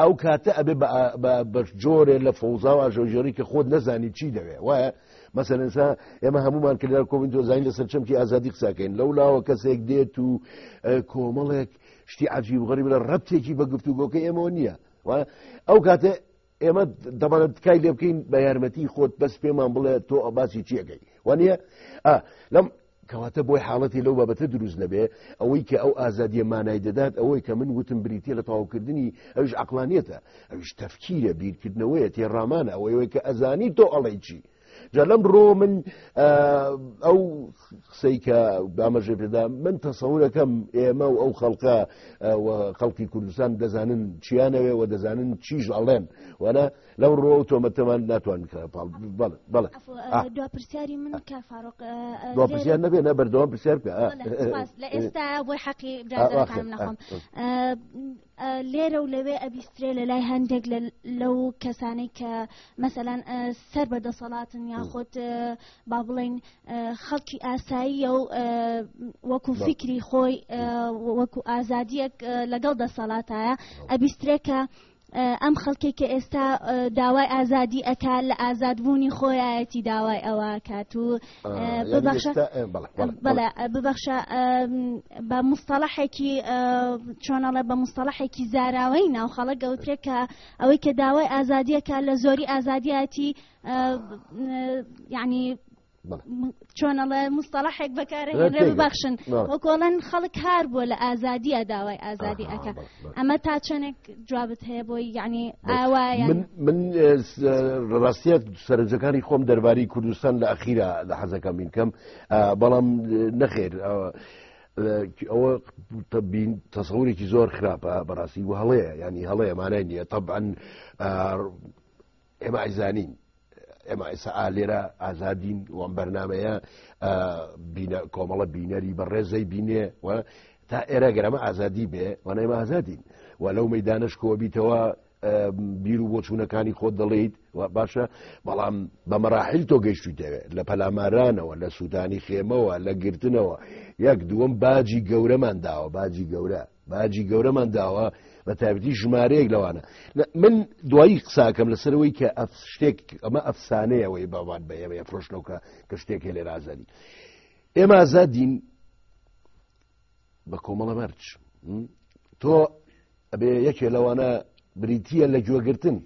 Speaker 1: ئەو کاتە ئەبێ بە بەشجۆرێ لە فەوزا و ئاژەوژێڕی کە خۆت نەزانی چی دەوێ وایە مەسەرەنسا ئێمە هەمومان کردار کۆمین دۆزانین لەسەر چەمکی ئازادی قساکەین لەو لاوە کەسێک دێت و کۆمەڵێک شتی عجیب غەریب لە ڕەتێکی بە گفتوگۆکە ئێمەوە نییە ئەو کاتە ئێمە دەبانە تکای لێ بکەین بە یارمەتی خۆت بەس پێمان بڵێ تۆ باسی چیەکەی وانە لەم کەواتە بۆی حاڵەتی لەو بابەتە دروست نەبێ، ئەوەی کە ئەو ئازادییە مانای دەدات ئەوەی کە من وتم بریتییە لە تەواوکردنی، ئەویش عەقڵانییەتە، ئەویش تەفکیرە، بیرکردنەوەیە، تێڕامانە، ئەوەی کە ئەزانی تۆ ئەڵێی چی. جا لەم ڕۆ من ئەو قسەی کە بامەژێ پێدا من تەسەورەکەم ئێمە و ئەو خەڵکە خەڵکی کوردستان دەزانن چیانەوێ و دەزانن چیش ئەڵێن وەە لەو ڕۆ و تۆمەتەمان ناتوان دوپرسیاری
Speaker 3: من دوپرسیار نەبێ
Speaker 1: نە بەردەوام پرسیار بکە لە ئێستا
Speaker 3: بۆی حەقی نەخۆم لێرە و لەوێ ئەبیسترێ لە لای هەندێک لەو کەسانەی کە مەسەلاەن سەر بە دەسەڵاتن یاخۆت با بڵین خەڵکی ئاساییە و وەکو فکری خۆی وەکو ئازادیەک لەگەڵ دەسەڵاتایە ئەبیسترێکە ئەم خەڵکەی کە ئێستا داوای ئازادی ئەکا لە ئازادبوونی خۆیەتی داوای ئەوە کات و ببەخشە بە مستەڵەحێکی چۆنەڵە بە مستەڵەحێکی زاراوەی ناو خەڵک گەوترێکە ئەوەی کە داوای ئازادیەکە لە زۆری ئازادیەتی یعنی چۆنەڵێ مستەڵحێک بەکارێنرێ ببەخشن وەکۆڵەن خەڵک کار بووە لە ئازادیە داوای ئازادی ئەەکە ئەمە تا چەندێک جوابت هەیە بۆی یعنی ئاوایە من
Speaker 1: ڕاستیت سەرنجەکانی خۆم دەرباری کوردستان لە ئەخیرا لە حەزەکە من کەم بەڵام نەخێر ئەوە تبین تەسەورێکی زۆر خراپە بەڕاستی و هەڵەیە ینی هەڵەیە مانای نییە طبعاً ئێمە ئایزانین ئێمە ئێسا ئالێرە ئازادین وەم بەرنمەیە بینە کۆمەڵە بینەری بە ڕێزەی بینێ و تا ئێرە گەرەمە ئازادی بێ وەنەیمە ئازادین و لەو مەدانش کۆبیتەوە بیر و بۆچوونەکانی خۆت دەڵیت و باشە بەڵام بە مەراحل تۆ گەشتی دەوێت لە پەلامارانەوە لە سوودانی خێمەوە لە گرتنەوە یەک دووەم باجی گەورەمان داوە باجی گەورە باجی گەورەمان داوە بە تابەتی ژمارەیەک لەوانە من دوایی قساکەم لەسەرەوەی کە ئەف شتێک ئەمە ئەفسانەیەوەی باوان بە ئێمە فرۆشنەوەکە کە شتێک هێ لێ رازانی ئێمە ئازادین بە کۆمەڵە مەرچ تۆ ئەبێ یەکێ لەوانە بریتە لە گوێگرتن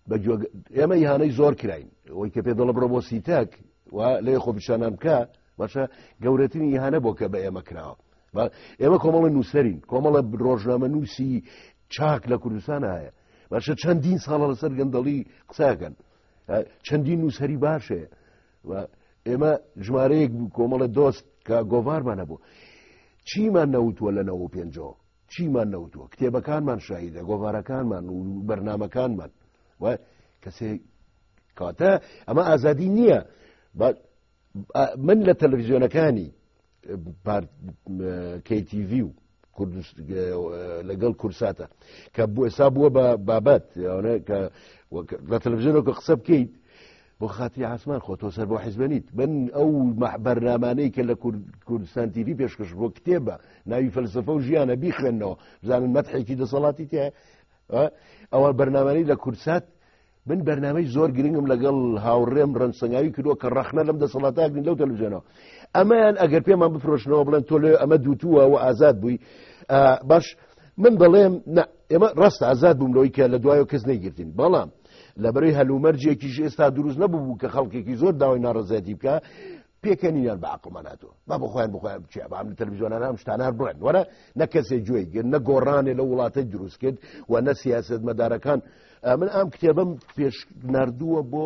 Speaker 1: بەگوێ ئێمە یهانەی زۆر کراین ئەوەی کە پێ دەڵە بڕە بۆ سیتەک و لێ خۆ پیشانان بکە باشە گەورەترین یهانە بۆ کە بە ئێمە کراوە ئێمە کۆمەڵە نووسەرین کۆمەڵە ڕۆژنامە نووسی چاک لە کوردستان هەیە باشە چەندین ساڵە لەسەر گەندەڵی قساکەن چەندین نووسەری باشەیە ئێمە ژمارەیەک کۆمەڵە دۆست کە گۆڤارمانە بوو چیمان نەوتوە لە نەوە پێنجەوە چیمان نەوتووە کتێبەکانمان شاهیدە گۆڤارەکانمان و بەرنمەکانمان و کەسێ کاتە ئەمە ئازادی نییە من لە تەلەڤزیۆنەکانی KTV و لەگەڵ کورساتە کە بۆ ئێسا بووە بە بابەت کە لە تەلەڤزیۆنەوە کە قسە بکەیت بۆ خاتری عسمان خۆ تۆ سەر بۆ حیزبە نیت بن ئەو بەرنامانەی کە لە کوردستان تیوی پێشکەش بۆ کتێبە ناوی فەلسفە و ژیانە بیخوێندنەوە بزانن مەتحێکی دەسەڵاتی تێ ئەوە بەرنامانی لە کورسات من بەرنمەی زۆر گرنگم لەگەڵ هاوڕێم ڕەنسەنگاوی کردووە کە ڕەخنە لەم دەسەڵاتاگرین لەو تەلوزیۆنەوە ئەمەیان ئەگەر پێمان بفرۆشنەوە بڵێن تۆ لێ ئەمە دووتووە و ئازاد بووی باش من بەڵێم ئێمە ڕاستە ئازاد بووم لەوەی کە لە دوایەوە کەس نەیگرتین بەڵام لەبەرەی هەلومەرجێکیش ئێستا دروست نەبوو کە خەڵکێکی زۆر داوای ناڕزێتی بکە پێکەنیان بە عقلمان ناتوە با بە خۆیان بخۆیان بچێ بام لە تەلویزیۆنان ئەم شتانار بڵێن وەرە نە کەسێ گوێی گرن نە گۆڕانێ لە وڵاتە دروست کرد و نە سیاست مەدارەکان من ئەم کتێبم پێش نردووە بۆ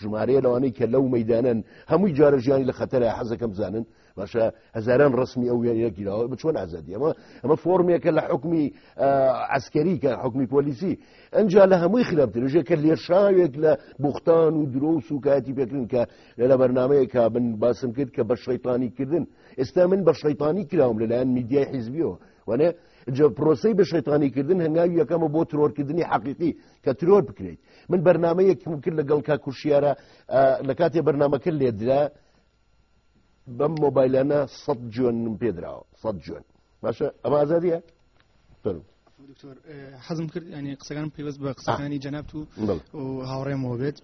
Speaker 1: ژمارەیە لەوانەی کە لەو مەدانن هەمووی جارە ژیانی لە خەتەرە حەزەکەم بزانن باشە هزاران ڕسمی ئەو وێنە گیراوە بە چۆن ئازادی ئەمە ئەمە فۆرمێکە لە حکومی ئەسکەری کە حکومی پۆلیسی ئەجا لە هەمووی خراپترژێک کە لێشاوێک لە بوختان و درۆ و سوکایەتی پێکردن کە لە بەرنمەیەکە بن باسم کرد کە بە شەیتانی کردن ئێستا من بە شەیتانی کراوم لەلایەن میدیای حیزبیەوە وانێ جە پرۆسی بە شەیتانیکردن هەنگاوی یەکەمە بۆ ترۆرکردنی حەقیقی کە ترۆر بکرێت من بەرنمەیەکم کرد لەگەڵ کا کوشیارە لە کاتێ بەرنمەکە لێدرا بەم مۆبایلانە سە جوێن پێدراوە سە جوێن باشە ئەمە ئازادیە فەرم
Speaker 4: دکتۆر حەزم کرد ینی قسەکان پێوەست بە قسەکانی جەنابت و هاوڕێمەوە بێت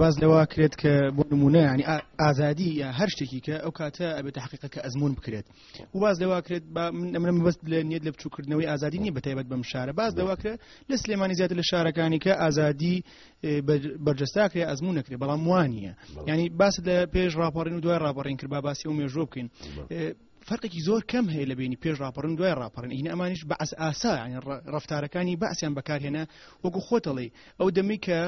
Speaker 4: باز لەوە کرێت کە بۆ نمونە ینی ئازادی یا هەر شتێکی کە ئەو کاتە ئەبێت حقیقە کە ئەزمون بکرێت و باز لەوە کرێت منم بەست لە نیت لە بچووکردنەوەی ئازادی نیە بەتایبەت بەم شارە باز لەوە کرێت لە سلێمانی زیاتر لە شارەکانی کە ئازادی بەرجەستاکرێ ئەزمون نەکرێ بەڵام وانە ینی باست لە پێش راپەڕین و دوای راپەڕین کرد با باسی و مێژۆ بکەین فەرقێکی زۆر کەم هەیە لە بینی پێش راپەڕن دوای راپەڕن ئینە ئەمانش بەعس ئاسا ڕفتارەکانی باسییان بەکارهێنا وەکو خۆتەڵی ئەو دەمی کە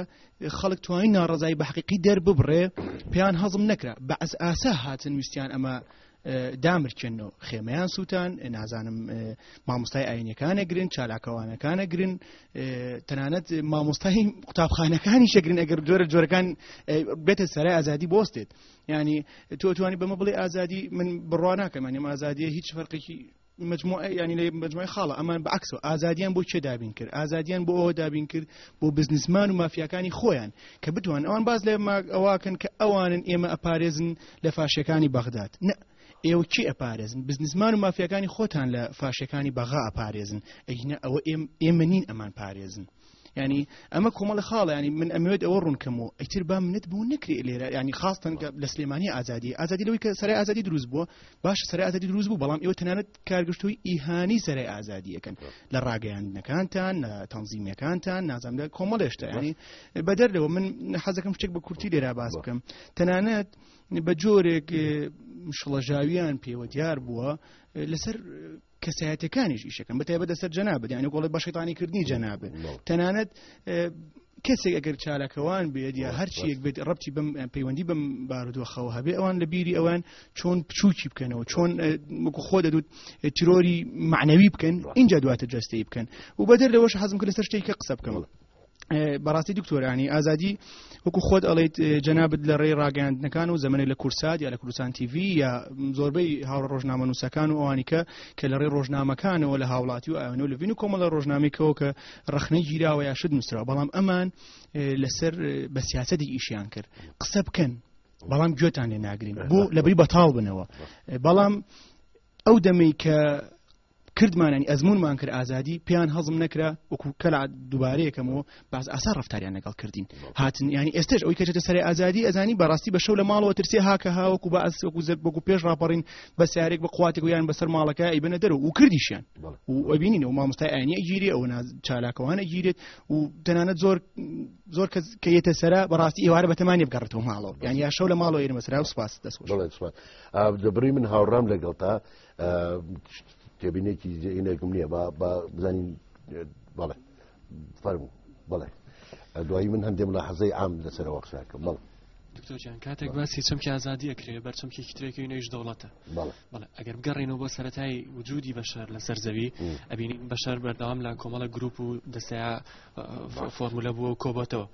Speaker 4: خەڵک توانی ناڕزای بە حقیقی دەرببڕێ پێیان هەزم نەکرا بەعس ئاسا هاتن ویستیان ئەمە دامرکێنەوە خێمەیان سووتان نازانم مامۆستای ئاینەکانە گرن چالاکەوانەکانە گرن تەنانەت مامۆستای قوتابخانەکانی شەگرن ئەگەر جۆرە جۆرەکان بێتە سەرای ئازادی بۆستێت یعنی تۆ توانی بەمە بڵێ ئازادی من بڕوا ناکەم ئەنیم ئازادیە هیچ فەرقێکی مجموعە ینی لە مجموعی خاڵە ئەمان بەعکس و ئازادیان بۆ چێ دابین کرد ئازادیان بۆ ئەوە دابین کرد بۆ بزنسمان و مافیاکانی خۆیان کە بتوان ئەوان باز لە ئەوواکەن کە ئەوانن ئێمە ئەپارێزن لە فاشەکانی بەغداد نە ئێوە چی ئەپارێزن بزنسمان و مافیاکانی خۆتان لە فاشەکانی بەغا ئەپارێزن ئەگینە ئەوە ئێمە نین ئەمان پارێزن ینی ئەمە کۆمەڵە خاڵە ینی من ئەمەوێت ئەوە ڕوونکەم و ئەتر با منت بوو نکرێت لێرە ینی خاستن لە سلێمانی ئازادی ئازادی لەوەی کە سەر ئازادی دروست بووە باش سەر ئازادی دروست بوو بەڵام ئێوە تەنانەت کارگەشتوی ئیهانی سەر ئازادیەکەن لە ڕاگەیاندنەکانتان لە تەنزیمەکانتان نازم لە کۆمەڵێشتا ینی بەدەر لەوە من حەزەکەم شتێک بە کورتی لێرا باس بکەم تەنانەت بە جۆرێک شڵەژاویان پێوە دیار بووە لەسەر کەسایەتەکانیش ئیشەکەن بەتایبەت لەسەر جەنابێت یانە گۆڵی بە شەیتانی کردنی جەنابێت تەنانەت کەسێک ئەگەر چالاکەوان بێت یا هەرچیەک بێت ڕەتی بم پەیوەندی بم بارودۆخەوە هەبێ ئەوان لە بیری ئەوان چۆن بچووکی بکەنەوە چۆن وەکو خۆ دەدوت ترۆری معنەوی بکەن اینجا دواتە جستەی بکەن و بەدەر لەوەش حەزم کرد لەسەر شتێککە قسە بکەمەوە بەڕاستی دکتۆرانی ئازادی وەکو خۆت ئەڵیت جەنابەت لە ڕێی ڕاگەاندنەکان و زمانی لە کورسات یا لە کوردستان تیV یا زۆربەی هاوڕ ڕۆژنامە نووسەکان و ئەوانیکە کە لە ڕێ ڕۆژنامەکانەوە لە هاوڵاتی و ئەوێنە لە بین و کۆمەڵە ڕۆژنامێکەوە کە ڕخنەی گیراوە یا شت نووسرا بەڵام ئەمان لەسەر بە سیاستی ئیشیان کرد قسە بکەن بەڵام گوێتان لێ ناگرین بۆ لەبری بەتاڵ بنەوە بەڵام ئەو دەمەی کە کردمان ینی ئەزمونمان کرد ئازادی پێیان هەزم نەکرا وەکو کەلا دووبارەیەکەمەوە باز ئاسا ڕفتاریان لەگەڵ کردین هاتن ینی ئێستش ئەوی کەچێتە سەر ئازادی ئەزانی بەڕاستی بە شەو لە ماڵەوە ترسێ هاکە هاوەکو بە ئەس وەکو زەر بەکو پێش ڕاپەڕین بە سیارێک بە قواتێک یان بەسەر ماڵەکە ئەیبنە دەر و کردیشیان وبینین و مامۆستای ئاینی ئەگیری ئەو چالاکەوانە گیرێت و تەنانەت زۆر زۆر کەس کە یەتە سەرە بەڕاستی ئێوارە بەتەمانی بگەڕێتەوە ماڵەوە یان یا شەو لە ماڵەوە ئێرمە سرا و سپاس دەست دەبڕی
Speaker 1: من هاوڕام لەگەڵ تا تێبینێکی زینێکم نییە با بزانین بەڵێ فەرمو بڵێ دوایی من هەندێک لە حەزەی ئام لەسەرەوە قساکە بڵ دکتۆرجان کاتێک
Speaker 5: باسی چەمکی ئازادیە کرێ بەرچەمکی ترێکی نوێش دەوڵەتە ئەگەر بگەڕێنەوە بۆ سەتای وجودی بەشار لەسەر زەوی ئەبینین بەشار بەردەوام لە کۆمەڵە گروپ و دەسەیە فۆرمولە بووە و کۆبەتەوە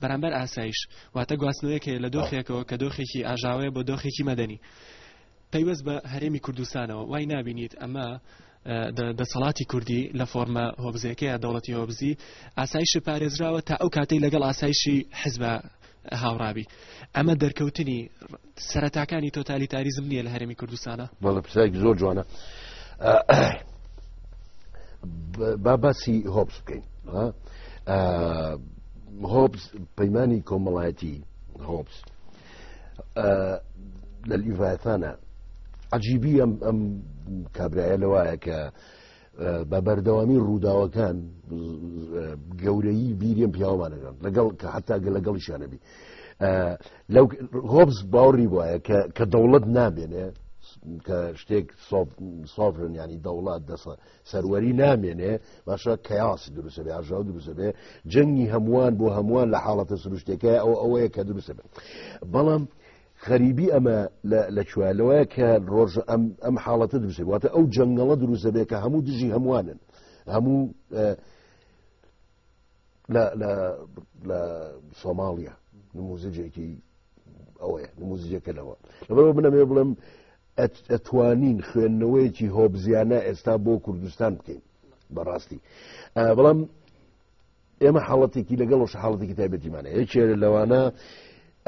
Speaker 5: بەرامبەر ئاسایش واتە گواستنەوەیەک هەیە لە دۆخێکەوە کە دۆخێکی ئاژاوەیە بۆ دۆخێکی مەدەنی پەیوەست بە هەرێمی کوردستانەوە وای نبینیت ئەمە دەسەڵاتی کوردی لە فۆرمە هۆبزەکەی دەوڵەتی هۆبزی ئاسایش پارێزراوە تا ئەو کاتەی لەگەڵ ئاسایشی حزبە هاوڕابی ئەمە دەرکەوتنی سەرەتاکانی تۆتالیتاریزم نییە لە هەرێمی کوردستانە بەڵە پرسایکی زۆر
Speaker 1: جوانە با باسی هۆبس بکەین هۆبس پەیمانانی کۆمەڵایەتی هۆبس لە لیڤایەتانە عجیبی ئەم ئەم کابراایە لەوایە کە بە بەردەوامی ڕووداوەکان گەورەی بیریم پیاوانەکان لەگەڵ کە حتا گە لەگەڵی شانەبی لەو هۆبز باوڕی وایە کە دەوڵەت نامێنێ کە شتێک سۆفرن ینی دەوڵات دەسە سەروەری نامێنێ باشە کەیاسی دروستە بێ ئاژاو دروستە بێ جەنگی هەمووان بۆ هەمووان لە حاڵەتە سروشتەکە ئەو ئەوەیە کە دروستە بێت بەڵام غەریبی ئەمە لە کوێ لەوەیە کە ڕۆژ ئەم ئەم حاڵەتە دروست واتە ئەو جەنگەڵە دروست دەبێت کە هەموو دژی هەمووانن هەموو لە سۆماڵیا نموزجێکی ئەوەیە نموزجێکە لەوە لەبەرەوە بنەمێ بڵم ئەتوانین خوێندنەوەیەکی هۆبزیانە ئێستا بۆ کوردستان بکەین بەڕاستی بەڵام ئێمە حاڵەتێکی لەگەڵ ڕۆژ حاڵەتێکی تایبەتیمانە یەکێ لەوانە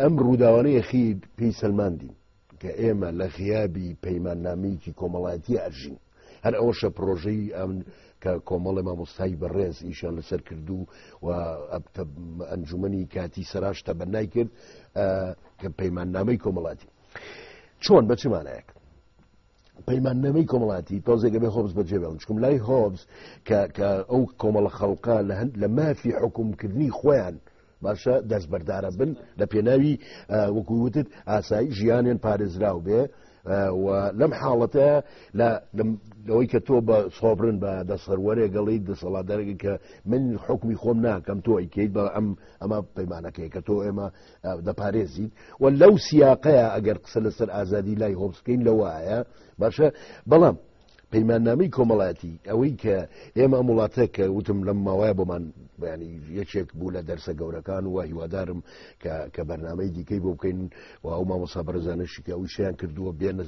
Speaker 1: ئەم ڕووداوانەیە خی پێی سەلماندین کە ئێمە لە غیابی پەیماننامەیەکی کۆمەڵایەتی ئەژین هەر ئەوەشە پرۆژەی ئەم کە کۆمەڵی مامۆستای بەڕێز ئیشان لەسەر کردو و ئەنجومنی کاتی سەراشتە بەنای کرد کە پەیماننامەی کۆمەڵاتی چۆن بەچمانایەک پەیماننامەی کۆمەڵاتی تۆزێکە بێ هۆبز بەجێ بێڵن چکم لای هۆبز کە ئەو کۆمەڵە خەڵقە لە هەند لە مافی حکومکردنی خۆیان باشە دەستبەردارە بن لە پێناوی وەکووتت ئاسایی ژیانێن پارێزراو بێ لەم حاڵەتە لەوەی کە تۆ بە سۆبرن بە دەسەروەرێ گەڵی دەسەڵاتدارێکی کە من حکمی خۆم ناکەم تۆ ئەیکەیت بە ئەم ئەمە پەیمانەکەی کە تۆ ئێمە دەپارێزین و لەو سیاقەیە ئەگەر قسە لەسەر ئازادی لای هۆمسکەین لەوەیە باشە بەڵام پەیماننامەی کۆمەڵایەتی ئەوەی کە ئێمە ئەم وڵاتە کە وتم لەم ماوایە بۆمان بەیانی یەکێک بوو لە دەرسە گەورەکان و هیوادارم کە بەرنمەی دیکەی بۆ بکەین و ئەو مامۆسا بەرزانشی کە ئەوی شیان کردووە بێنە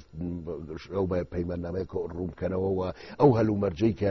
Speaker 1: ئەو بە پەیماننامەیە ڕوومکەنەوە و ئەو هەلومەرجەی کە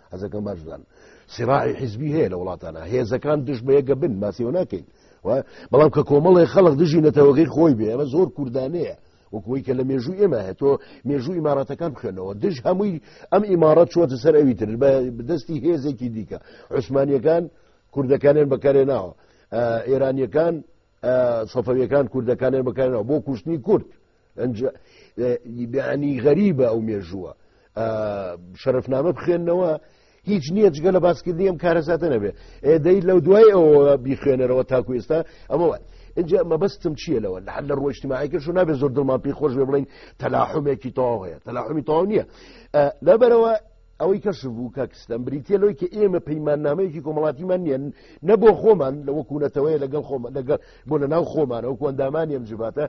Speaker 1: هەزەکەم باشدان سراعی حزبی هەیە لە وڵاتانە هێزەکان دژ بەیەگە بن ماسیەوە ناکەین بەڵام کە کۆمەڵی خەڵک دژی نەتەوەگەی خۆی بێ ئەمە زۆر کوردانەیە وەکوی کە لە مێژوو ئێمە هەیە تۆ مێژوو ئیماراتەکان بخێنەوە دژ هەمووی ئەم ئیمارەت چۆتە سەر ئەوی تر بە دەستی هێزێکی دیکە عوسمانیەکان کوردەکانیان بەکارێ ناوە ئێرانیەکان سەفەویەکان کوردەکانیان بەکارێنەوە بۆ کوشتنی کورد بیانی غەریبە ئەو مێژووە شەرفنامە بخێنەوە هیچ نییە جگە لە باسکردنی ئەم کارەساتە نەبێ ئێدەی لەو دوای ئەوە بیخوێنەرەوە تاکو ئێستا ئەمە اینجا مەبەستم چییە لەوە لە لە ڕۆشتماعیکەش و نابێ زۆر دڵمان پێی خۆش بێ بڵین تەلاحمێکی تەواو هەیە تەلاحمی تەواو نییە لەبەرەوە ئەوەی کەشف بوو کاکستان بریتە لەوەی کە ئێمە پەیماننامەیەکی کۆمەڵاتیمان نیە نە بۆ خۆمان لە وەکوونەتەوەی لەگەڵ خۆمە لەگەڵ بۆ لە ناو خۆمانە وەکو ئەندامانی ئەم جباتە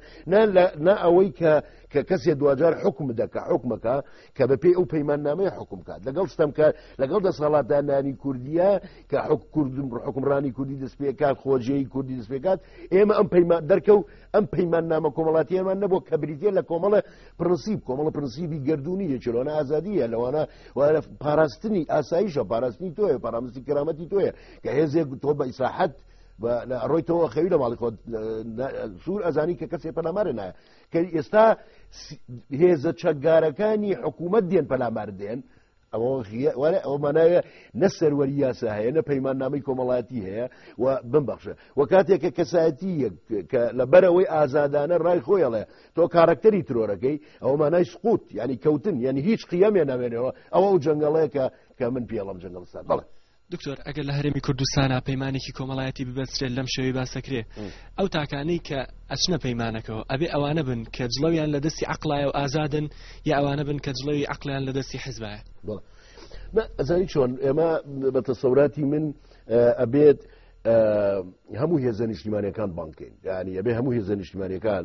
Speaker 1: نا ئەوەی کە کە کەسێ دوجار حکم دەکە حکومەکە کە بە پێی ئەو پەیماننامەی حکم کات لەگەڵ ستەم کە لەگەڵ دەسەڵاتدانانی کوردیە کە حک کوردم حکمڕانی کوردی دەستپێکات خۆجێی کوردی دەستپێکات ئێمە ئەم پەیمان دەرکە و ئەم پەیماننامە کۆمەڵاتیەمان نەبوو کە بریتە لە کۆمەڵە پرنسیب کۆمەڵە پرنسیبی گردردونی یەکی لەوانە ئازادیە لەوانە وارە پاراستنی ئاساییشە پاراستنی تۆیە پارامستی کرامەتی تۆیە کە هێزێک تۆ بە ئیساحەت ڕۆی تۆ خەوی لە ماڵی خۆت سوور ئەزانی کە کەسێ پەلامارە نایە کە ئێستا هێزە چەکگارەکانی حکوومەت دێن پەلامار دێن ئەوە وەرە ئەو ماناوێ نە سەروەری یاسا هەیە نە پەیمان نامی کۆمەڵاتی هەیە و بمبخشە و کاتێک کە کەسایەتی کە لە بەرەوەی ئازادانە ڕای خۆیڵێ تۆ کارەکتەری ترۆرەکەی ئەو مانای سقوت ینی کەوتن یعنی هیچ قیەمێ نامێنەوە ئەوە ئەو جنگڵەیە کە کە من پێڵم جنگڵستان بڵێ دکتۆر ئەگەر لە
Speaker 5: هەرێمی کوردستانە پەیمانێکی کۆمەڵایەتی ببەسترێت لەم شێوی باسەکرێ ئەو تاکانەی کە ئەچنە پەیمانەکەەوە ئەبێ ئەوانە بن کە جڵەویان لە دەستی عقلایە و ئازادن یا ئەوانە بن کە جڵەوی عقلیان لە دەستی حزبایە
Speaker 1: ئەزانی چۆن ئێمە بە تەسەوراتی من ئەبێت هەموو هێزە نیشتیمانەکان بانکەین یعنی ئەبێ هەموو هێزە نیشتیمانەکان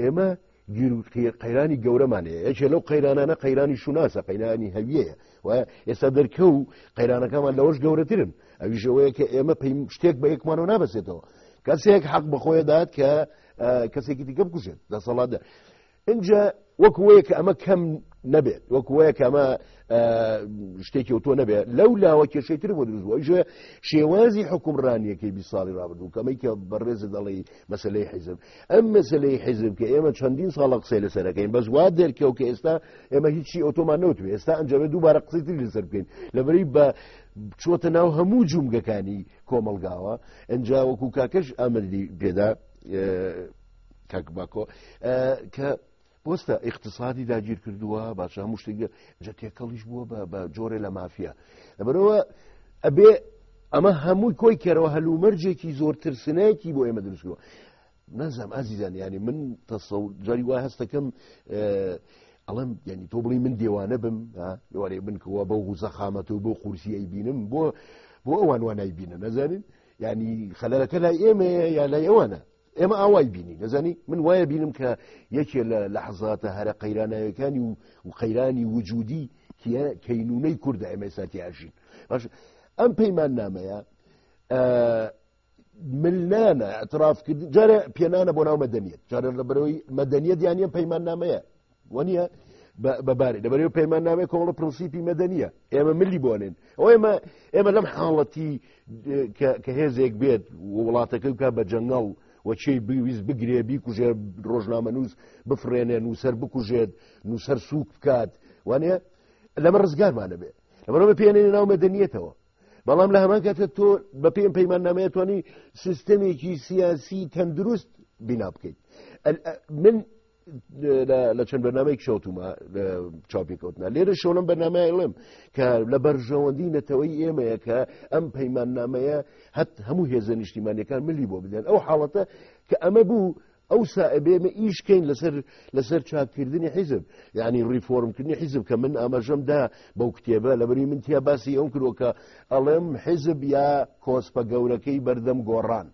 Speaker 1: ئێمە قەیرانی گەورەمان هەیە یەکێ لەو قەیرانانە قەیرانی شوناسە قەیرانی هەویەیە و ئێستا دەرکە و قەیرانەکەمان لەوەش گەورەترن ئەویشەوەیە کە ئێمە پێیم شتێک بە یەکمانەوە نابەسێتەوە کەسێک حەق بەخۆیە دات کە کەسێکی دیکە بکوژێت دەسەڵاتدا اینجا وەکوەیە کە ئەمە کەم نەبێت وەکوەیە کە ئەمە شتێکی و تۆ نەبێت لەو لاوە کێشەی تر بۆ دروستوە ژێ شێوازی حکومڕانیەکەی بی ساڵی رابردوو کەمەی کە بەڕێزە دەڵی مەسلەی حیزب ئەم مەسلەی حیزب کە ئێمە چەندین ساڵە قسەی لەسەرەکەین بەس وا دەرکەو کە ئێستا ئێمە هیچی ئۆتۆمان نەوتێ ئێستا ئەنجامێ دووبارە قسەی تری لەسەر بکەین لەبەری بە چۆتە ناو هەموو جومگەکانی کۆمەلگاوە ئەنجاوەکو کاکەش ئامەدی پێدا کاک باکۆ کە بۆستە ئیقتصادی داگیر کردووە باشە هەموو شتێک جە تێکەڵیش بووە بە جۆرێ لە مافیا لەبەرەوە ئەبێ ئەمە هەمووی کۆی کەرەوە هەلومەرجێکی زۆر ترسنایەکی بۆ ئێمە دروستکەوە نازام ئازیزان ینی من تەسە جاری وای هەستەکەم ئەڵم ینی تۆ بڵی من دێوانە بم لەوارێ بنکەوە بەو غوزەخامەت و بۆ قورسیی بینم بۆ بۆ ئەوان وانای بینە نەزانین ینی خەلەرەکە لای ئێمە یا لای ئەوانە ئێمە ئاوای بینی نەزانی من وایە بینم کە یەکێ لە لەحزاتە هەرە قەیرانەکانی و و قەیرانی وجودی کەینونەی کووردە ئێمە ساتیاژین باش ئەم پەیمان نامەیە ملنانە ئەترافکردن جارە پێنانە بۆ ناو مەدەنیت جارە لە بەرەوەی مەدەنیت یانە پەیمان نامەیە وەنیە بەبارێ لەبەرەوە پەیمان نامێک کۆڵە پرنسیپی مەدەنیە ئێمە ملی بۆنێن ئەو ئێمە ئێمە لەم حاڵەتی کە هێزێک بێت وڵاتەکە بکە بە جەنگەڵ وەچی بویست بگرێ بیکوژێ ڕۆژنامە نووس بفرێنێ نووسەر بکوژێت نووسەر سووک بکات وانە لەمە ڕزگارمانە بێ لەمەەوە پێێنێ ناو مەدەنیەتەوە بەڵام لە هەمان کاتە تۆ بە پێم پەیمان نامەیەتوانی سیستەمێکی سیاسی تەندروست بینا بکەیت من لە چەند بەنامەی کشەوتومە چاپیکەوتنا لێرە شۆڵم بەنامایڵم کە لە بەرژەوەندی نەتەوەی ئێمەیە کە ئەم پەیماننامەیە هەت هەموو هێزە نیشتیمانەکان ملی بۆ بدەن ئەو حاڵەتە کە ئەمە بوو ئەو سائبێمە ئیشکەین لەسەر لەسەر چاککردنی حیزب یعنی ڕیفۆرمکردنی حیزب کە من ئاماژەمدا بەو کتێبە لەبری من تیا باسی ئەو کرۆکە ئەڵێم حیزب یا کۆسپە گەورەکەی بەردەم گۆڕان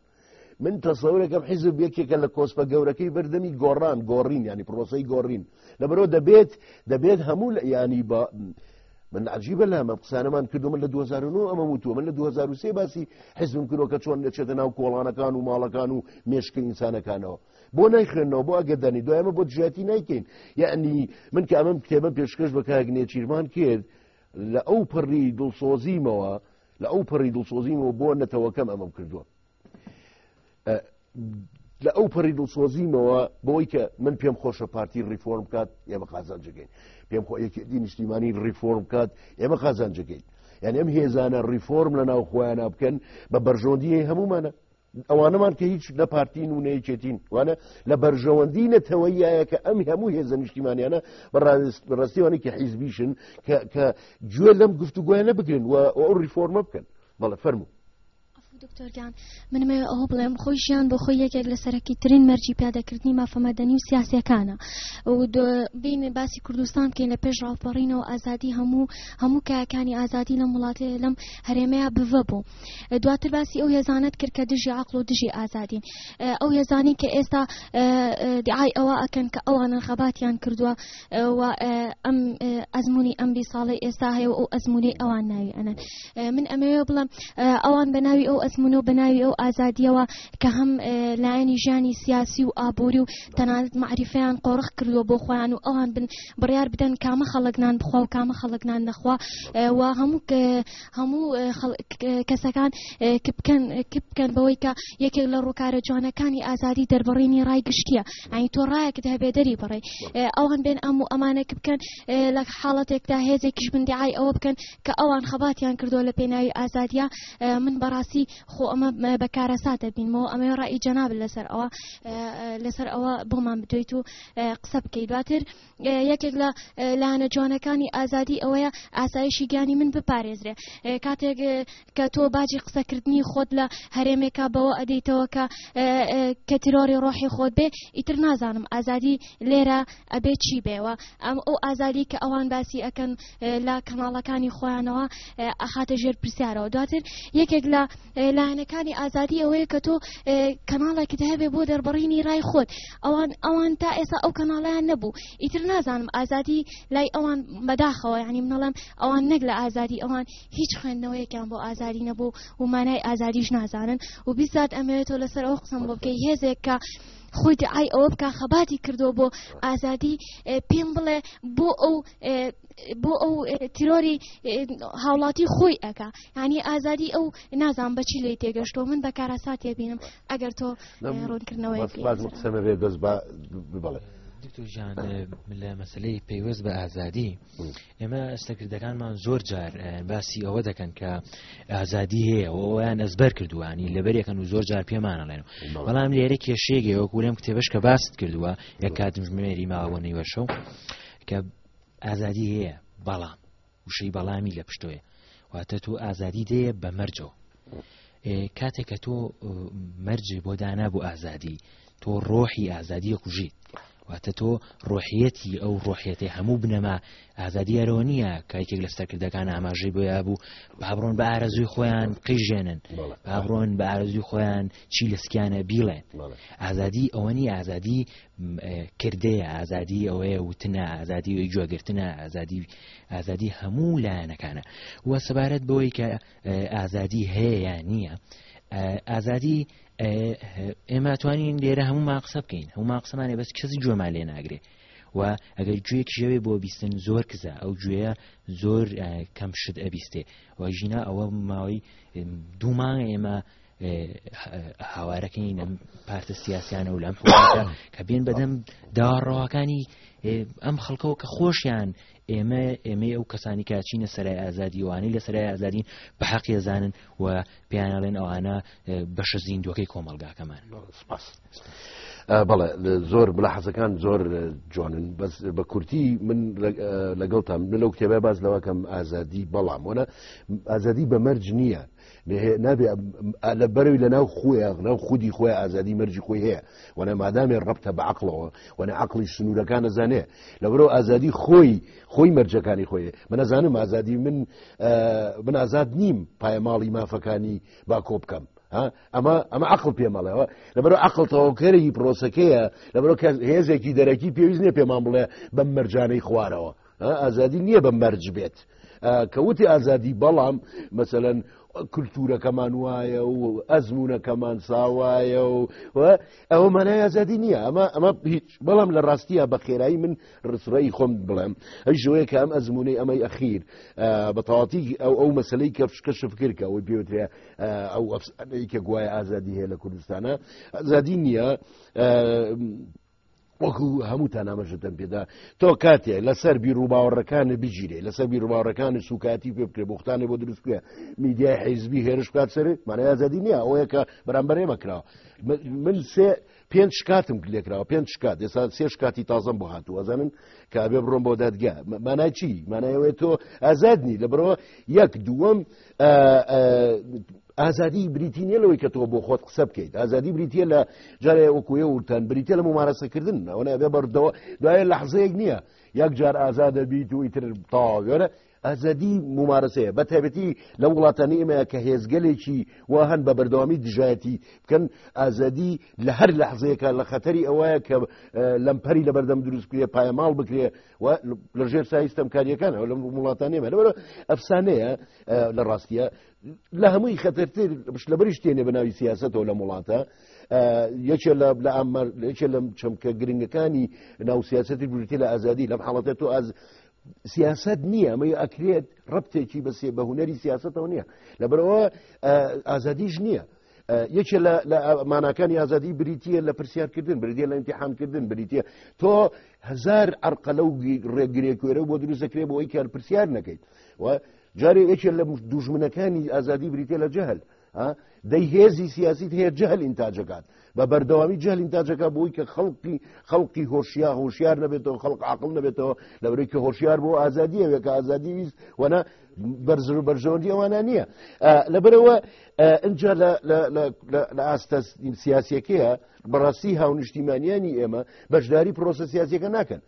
Speaker 1: من تەسەورەکەم حیزب یەکێکە لە کۆسپە گەورەکەی بردننی گۆڕان گۆڕین ینی پرۆسی گۆڕین لەبەرەوە دەبێت دەبێت هەموو لە ینی بە من عجیبە لە ئەمە قسانەمان کردو من لە 2009 ئەمە وتووە من لە 2023 باسی حزم کرۆکە چۆن دەچێتە ناو کۆڵانەکان و ماڵەکان و مێشکە ئینسانەکانەوە بۆ نایخێنەوە بۆ ئەگەدانی دوایمە بۆ دژاتی نایکەین یعنی من کە ئەمەم کتێبە پێشکەش بە کاگنێ چیرمان کرد لە ئەو پڕی دڵسۆزیمەوە لە ئەو پەڕی دڵسۆزیمەوە بۆ نەتەوەکەم ئەمەم کردووە لە ئەو پەڕی دڵسۆزیمەوە بۆی کە من پێم خۆشە پارتی ریفۆرم بکات ئێمە قازانجگەین پێم خۆ یەکێتی نیشتیمانی ریفۆرم بکات ئێمە قازانجگەین یعنی ئەم هێزانە ریفۆرم لە ناو خۆیانە بکەن بە بەرژۆندی هەمومانە ئەوانەمان کە هیچ نە پارتین و نەیەکێتین وانە لە بەرژەوەندی نەتەوەیایە کە ئەم هەموو هێزە نیشتیمانیانە بەڕاستیوانی کە حیزبیشن کە گوێ لەم گفتوگوۆیانە بگرن و ئەو ریفۆرمە بکەن بەڵە فەرمو دکتۆرگان
Speaker 6: منمە ئەوە بڵێم خۆی ژیان بۆ خۆی یەکێک لە سەرەکی ترین مەرجی پیادەکردنی مافەمەدەنی و سیاسەکانە بین باسی کوردستان بکەین لە پێش ڕاپەڕینەوە ئازادی هەموو هەموو کاکانی ئازادی لەم وڵاتێ لەم هەرێمەیە بڤە بوو دواتر باسی ئەو هێزانەت کرد کە دژی عقل و دژی ئازادین ئەو هێزانی کە ئێستا دیعای ئەوە ئەکەن کە ئەوانە خەباتیان کردووە و ئەم ئەزمموی ئەم بی ساڵی ئێستا هەیە و ئەو ئەزمموی ئەوان ناوی ئەنە من ئەمەوێ بڵم ئەوان بە ناوی ئەو ئەزممون و بە ناوی ئەو ئازادیەوە کە هەم لایەنی ژیانی سیاسی و ئابووری و تەنانەت معریفیان قۆرخ کردووە بۆ خۆیان و ئەوان بن بڕیار بدەن کامە خەڵک نان بخوا و کامە خەڵک نان نەخوا و هەموو هەموو کەسەکان کپکەن کپکەن بەوەی کە یەکێک لە ڕووکارە جوانەکانی ئازادی دەربڕینی ڕای گشتیە ئەنی تۆ ڕایەکت هەبێ دەری بڕێ ئەوان بێن ئەم و ئەمانە کپکەن لە حاڵەتێکدا هێزێکیش بندیعای ئەوە بکەن کە ئەوان خەباتیان کردو لە پێناوی ئازادیا من بەڕاستی خۆ ئەمە بەکارەساتە بینمەوە ئەمە ڕای جەناب لەسەر ئەوە لەسەر ئەوە بۆمان بدوێیت و قسە بکەیت دواتر یەکێک لە لایەنە جوانەکانی ئازادی ئەوەیە ئاسایشی گیانی من بپارێزرێ کاتێک کە تۆ باجی قسەکردنی خۆت لە هەرێمێکا بەوە ئەدەیتەوە کە کە تیرۆری ڕۆحی خۆت بێ ئیتر نازانم ئازادی لێرە ئەبێ چی بێەوە ئەم ئەو ئازادی کە ئەوان باسی ئەەکەن لە کەناڵەکانی خۆیانەوە ئەخاتە ژێر پرسیارەوە دواتر یەکێک لە لایەنەکانی ئازادی ئەوەیە کە تۆ کەناڵێکت هەبێ بۆ دەربڕینی رای خۆت ئەوان ئەوان تا ئێستا ئەو کەناڵیان نەبوو ئیتر نازانم ئازادی لای ئەوان بەداخەوە ینی منەڵم ئەوان نەک لە ئازادی ئەوان هیچ خوێندنەوەیەکیان بۆ ئازادی نەبوو و مانای ئازادیش نازانن و بیزات ئەمەوێتەوە لەسەر ئەو قسم بۆ بکەی هێزێک کە خۆی دعای ئەوە بکە خەباتی کردو بۆ ئازادی پێم بڵێ بۆ ئەو بۆ ئەو تیرۆری هاوڵاتی خۆی ئەکا ینی ئازادی ئەو نازان بەچی لی تێگەشتۆ من بە کارەسا تێبینم ئەگەر تۆ ڕوونکردنەوەی قسەمە بێ دەست
Speaker 1: بڵێ. دکتۆژان
Speaker 7: لە مەسلەی پەیوەست بە ئازادی ئێمە ئەستەکردەکانمان زۆر جار باسی ئەوە دەکەن کە ئازادی هەیە ئەویان ئەزبەر کردوانی لەبەرەکەن و زۆر جار پێمانەڵێن بەڵام لێرە کێشێگەوە کورم کتێبش کە باست کردووە یە کاتمژمێری ماوە نەیوەشە و کە ئازادی هەیە بەڵام وشەی بەڵامی لە پشتۆیە واتە تۆ ئازادی دەیە بە مەرجەوە کاتێک کە تۆ مەرجێ بۆ دانا بۆ ئازادی تۆ ڕۆحی ئازادیە کوژیت واتە تۆ ڕۆحیەتی ئەو ڕۆحیەتی هەموو بنەما ئازادیارەوە نییە کایکێک لە سەرکردەکان ئاماژەی بۆیا بوو بابڕۆن بە ئارەزوی خۆیان قیژێنن بابڕۆن بە ئارەزوی خۆیان چی لە سکیانە بیڵێن ئازادی ئەوەنی ئازادی کردەیە، ئازادی ئەوەیە وتنە، ئازادی ئەوی گوێگرتنە، ئازادی ئازادی هەموو لایەنەکانە و سەبارەت بەوەی کە ئازادی هەیە یا نییە ئازادی ئێمە توانین لێرە هەموو ماقسە بکەین هەموو ماقسەمانێ بەس کەس گوێمان لێ ناگرێ و ئەگەر گوێ کیژەوێ بۆ بیستن زۆر کزە ئەو گوێە زۆر کەم شت ئەبیستێ و ژینا ئەوە ماوەی دوومان ئێمە هاوارەکەی نەم پارتە سیاسیانە و لەم حکومەتە کە بێن بەدەم داڕەواکانی ئەم خەڵکەوە کە خۆشیان ئێمە ئێمەی ئەو کەسانی کە چینە سەرای ئازادیوانەی لە سەرای ئازادین بە حەقی زانن و پێیانڵێن ئەوانە بەشە زیندوەکەی کۆمەلگاکەمان
Speaker 1: بەڵێ زۆر بلا حەزەکان زۆر جوانن بەس بە کورتی من لەگەڵتان من لەو کتێبە باز لەوەکەم ئازادی بەڵام وەە ئازادی بە مەرج نییە نابێ لە بەرەوی لە ناو خۆیان ناو خودی خۆی ئازادی مەرجی خۆی هەیە وەە مادامێ ڕبتە بە عقلەوە وەە عقلی سنوورەکان نەزانێ لە بەرەوە ئازادی خۆی خۆی مەرجەکانی خۆی منەزانم ئازادی من من ئازاد نیم پایماڵی مافەکانی با کۆ بکەم ئەمە ئەمە عقل پێمەڵەوە لەبەر عقل تەواوکەرەی پرۆسەکەیە لەبەر هێزێکی دەرەکی پێویست نیە پێمان بڵێ بەم مەرجانەی خوارەوە ئازادی نییە بە مەرج بێت کەوتی ئازادی بەڵام مەسەەن کللتورەکەمان وایە و ئەزمونونەکەمان ساوایە و ئەوە مانای ئازادی نییە ئەمە ئەمە هیچ بەڵام لە ڕاستیە بە خێرایی من ڕسرایی خۆم بڵێم ئەی ژۆیە کە ئەم ئەزمونەی ئەمەی ئەخیر بە تەواتی ئەو ئەو مەسلەی کە فشکە شفکرکە ئەوەی پێوترێ ئەو ئەفسانەی کە گوایە ئازادی هەیە لە کوردستانە ئازادی نییە وەکو هەمووتان ئامەژەتەن پێدا تۆ کاتێ لەسەر بیرروباوەڕەکانە بگیرێ لەسەر بیرروباوەڕەکانی سوکاتی پێ بکرێ بختانێ بۆ دروستکرێ میدیای حیزبی هێرش بکات سەر مانای ئازادی نییە ئەوەیە کە بەرامبەر ئێمە کراوە من سێ پێنج شکاتم لێکراوە پێنج شکات ئێستا سێ شکاتی تازەم بۆ هاتوو ئەزانن کابێ بڕۆم بۆ دادگا مانای چی مانایەوەی تۆ ئازاد نی لە بەرەوە یەک دووەم ئازادی بریتی نیە لەوەی کە تۆ بۆ خۆت قسە بکەیت ئازادی بریتە لە جارێ وەکوێ وتان بریتە لە ممارەسەکردن ئەوەە بێ بەردەوە دوایە لە حزەیەک نییە یەک جار ئازادە بیت و ئیتر تاوێرە ئازادی ممارەسەیە بە تایبەتی لە وڵاتانی ئێمە کە هێزگەلێکی وا هەن بە بەردەوامی دژایەتی بکەن ئازادی لە هەر لە حزەیەەکە لە خەتەری ئەوەیە کە لەمپەری لە بەردەم دروستکرێ پایەماڵ بکرێ و لە ژێر سایستەمکاریەکان ئەو لەم وڵاتان نێمە لەبەر ئەفسانەیە لە ڕاستیە لە هەمووی خەتەرتر لە بەریش تێنێ بە ناوی سیاستەوە لە وڵاتە یەکێ لە لە ئامار یەکێ لەم چەمکە گرنگەکانی ناو سیاستی بریتی لە ئازادی لەم حاڵەتە تۆ ئاز سیاست نییە ئەمە ئەکرێت ڕپتێکی بەسێ بە هوەری سیاستەوە نییە لەبەرەوە ئازادیش نییە یەکێ لە ماناکانی ئازادی بریتە لە پرسیارکردن بریتە لە ئەتیحانکردن بریتە تۆ هزار ئەرقەلە و ڕێگرێکوێرە بۆ دروست دەکرێت بۆی کار پرسیار نەکەیت و جارێ یەکێ لە دوژمنەکانی ئازادی بریتە لە جەهل دەی هێزی سیاسی هەیە جەهل ئینتاجەکات بە بەردەوامی جەهل ئینتاجەکە بۆی کە خەڵقی خەڵقی هۆشیا هۆشیار نەبێتەوە خەڵق عقل نەبێتەوە لەورەی کە هۆشیار بۆ ئازادیەوێکە ئازادی ویست وەنا بەرزر و بەرژەوەندی ئەوانە نییە لەبەرەوە ئەجا لە ئاستە سیاسەکەیە بەڕاستی هاونیشتیمانیانی ئێمە بەشداری پرۆسە سیاسەکە ناکەن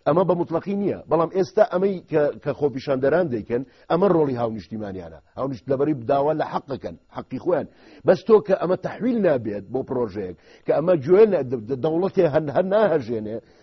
Speaker 1: ئەمە بە مطلقی نییە بەڵام ئێستا ئەمەی کە خۆپیشاندەران دەیکەن ئەمە ڕۆڵی هاونیشتیمانیانە هاونیشت لەبەری بداوا لە حەقەکەن حەقی خۆیان بەس تۆ کە ئەمە تحویل نابێت بۆ پرۆژەیەک کە ئەمە گوێن دەوڵەتێ هەن هەر ناهژێنێ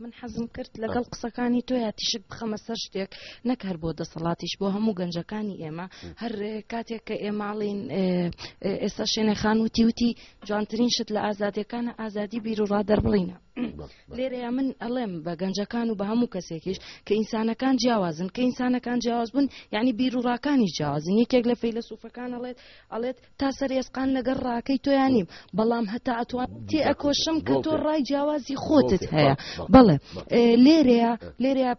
Speaker 2: من حەزم کرد لەگەڵ قسەکانی تۆ یا تیشک بخەمە سەر شتێک نەک هەر بۆ دەسەڵاتیش بۆ هەموو گەنجەکانی ئێمە هەر کاتێک کە ئێماڵین ئێستا شوێنێ خان وتی وتی جوانترین شت لە ئازادەکانە ئازادی بیرروڕا دەربڵینە لێرەیە من ئەڵێم بە گەنجەکان و بە هەموو کەسێکیش کە ئینسانەکان جیاوازن کە ئینسانەکان جیاواز بوون یعنی بیرروڕاکانی جیاوازن یەکێک لە فەیلە سوفەکان ئەڵێت ئەڵێت تا سەر ئێسقان لەگەر ڕاکەی تۆیان نیم بەڵام هەتا ئەتوان تێ ئەکۆشم کە تۆ ڕای جیاوازی خۆتت هەیە بەڵێ لێرەیە لێرە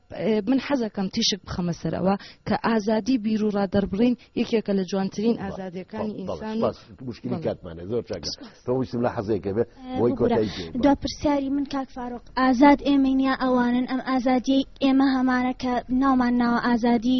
Speaker 2: من حەزەکەم تیشک بخەمە سەرەوە کە ئازادی بیر و ڕادەربڕین یەکێکە لە جوانترین ئازادەکانی ئینسان مشکلی کاتمانە
Speaker 1: زۆر تۆویستم لە حەزێکە بێت بۆی دا پرسیاری
Speaker 3: من کاک فاروق ئازاد ئێمەینیا ئەوانن ئەم ئازادی ئێمە هەمانە کە ناومان ناوە ئازادی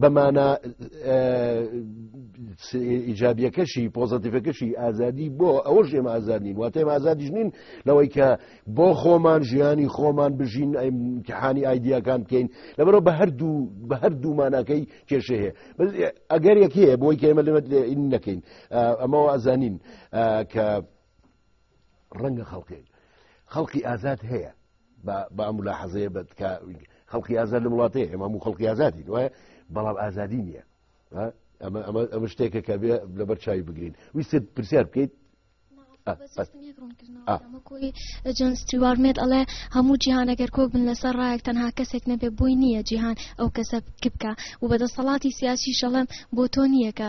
Speaker 1: بەمانە ئیجابیەکەشی پۆزتیفەکەشی ئازادی بۆ ئەوە ژێم ئازادین واتێم ئازادیش نین لەوەی کە بۆ خۆمان ژیانی خۆمان بژین ئەیمتحانی ئایدیاکان بکەین لەبەرەوە بە هەردوو بە هەردوو ماناکەی کێشە هەیە ئەگەر یەک هەیە بۆی کە ئێمە لەمە نەکەین ئەمەوە ئازانین کە ڕەنگە خەڵکێک خەڵکی ئازاد هەیە بە ئەملا حەزەیە بە خەڵکی ئازاد لە وڵاتەیە ئێمە و خەڵکی ئازادی وایە بەڵام ئازادی نییە ئەمە شتێکە کە بێ لەبەر چاوی بگرین ویست پرسیار بکەیت
Speaker 6: جۆن ستیوارمێت ئەڵێ هەموو جیهانەگەر کۆک بن لەسەر ڕایەک تەنها کەسێک نەبێ بۆی نییە جیهان ئەو کەسە بکە و بەدەسەڵاتی سیاسی شەڵم بۆ تۆ نییەکە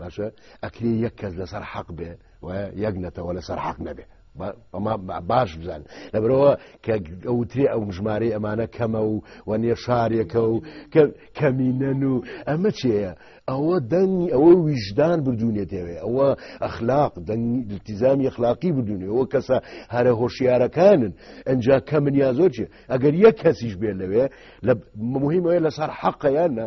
Speaker 1: باشە ئەکری یەک کەس لەسەر حەق بێ و یەک نەتەوە لەسەر حەق نەبێ ئەما باش بزان لەبرەوە کە ئەوترێ ئەو ژمارەی ئەمانە کەمە و و نێر شارێکە و کەمینەن و ئەمە چێە ئەوە دەنگی ئەوە ویژدان بردوونێتەوێ ئەوە ئەخلاق دەنگتیزامی ئەخلاقی بدونێ ئەوە کەسە هەرە هۆشیارەکانن ئەجا کەمنیا زۆر چێ ئەگەر یەک کەسیش بێن لەوێ لە مهمەیە لەسەر حەقەیانە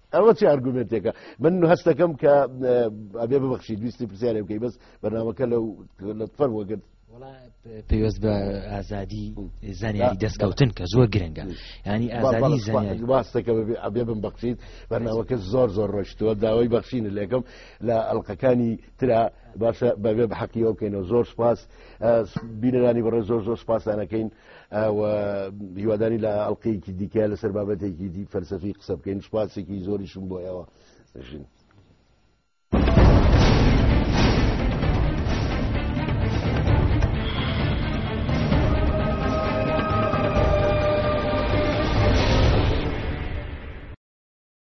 Speaker 1: ئەوە چ ئەرگومێنتێکە من هەستەکەم کە ئەبێ ببخشی دویستی پرسیارێ بکەی بەس بەنامەکە لەو لە فەر وەگرت پێوەست
Speaker 7: بە ئازادی زانیاری دەستکەوتن کە زۆر گرنگە ینی ئازادی زانیاری باستەکە ئەبێ
Speaker 1: بم بەخشیت بەناوەکە زۆر زۆر ڕۆشتووە داوای بەخشین لەکەم لە ئەلقەکانی ترا باشە بەبێ بە حەقیەوە بکەینەوە زۆر سپاس بینەرانی بەڕێ زۆر زۆر سپاسانەکەین هیوادانی لە ئەڵلقەیەکی دیکە لەسەر بابەتێکی دی فەرسەفی قسە بکەین سپاسێکی زۆریشم بۆ ئێوە ژین.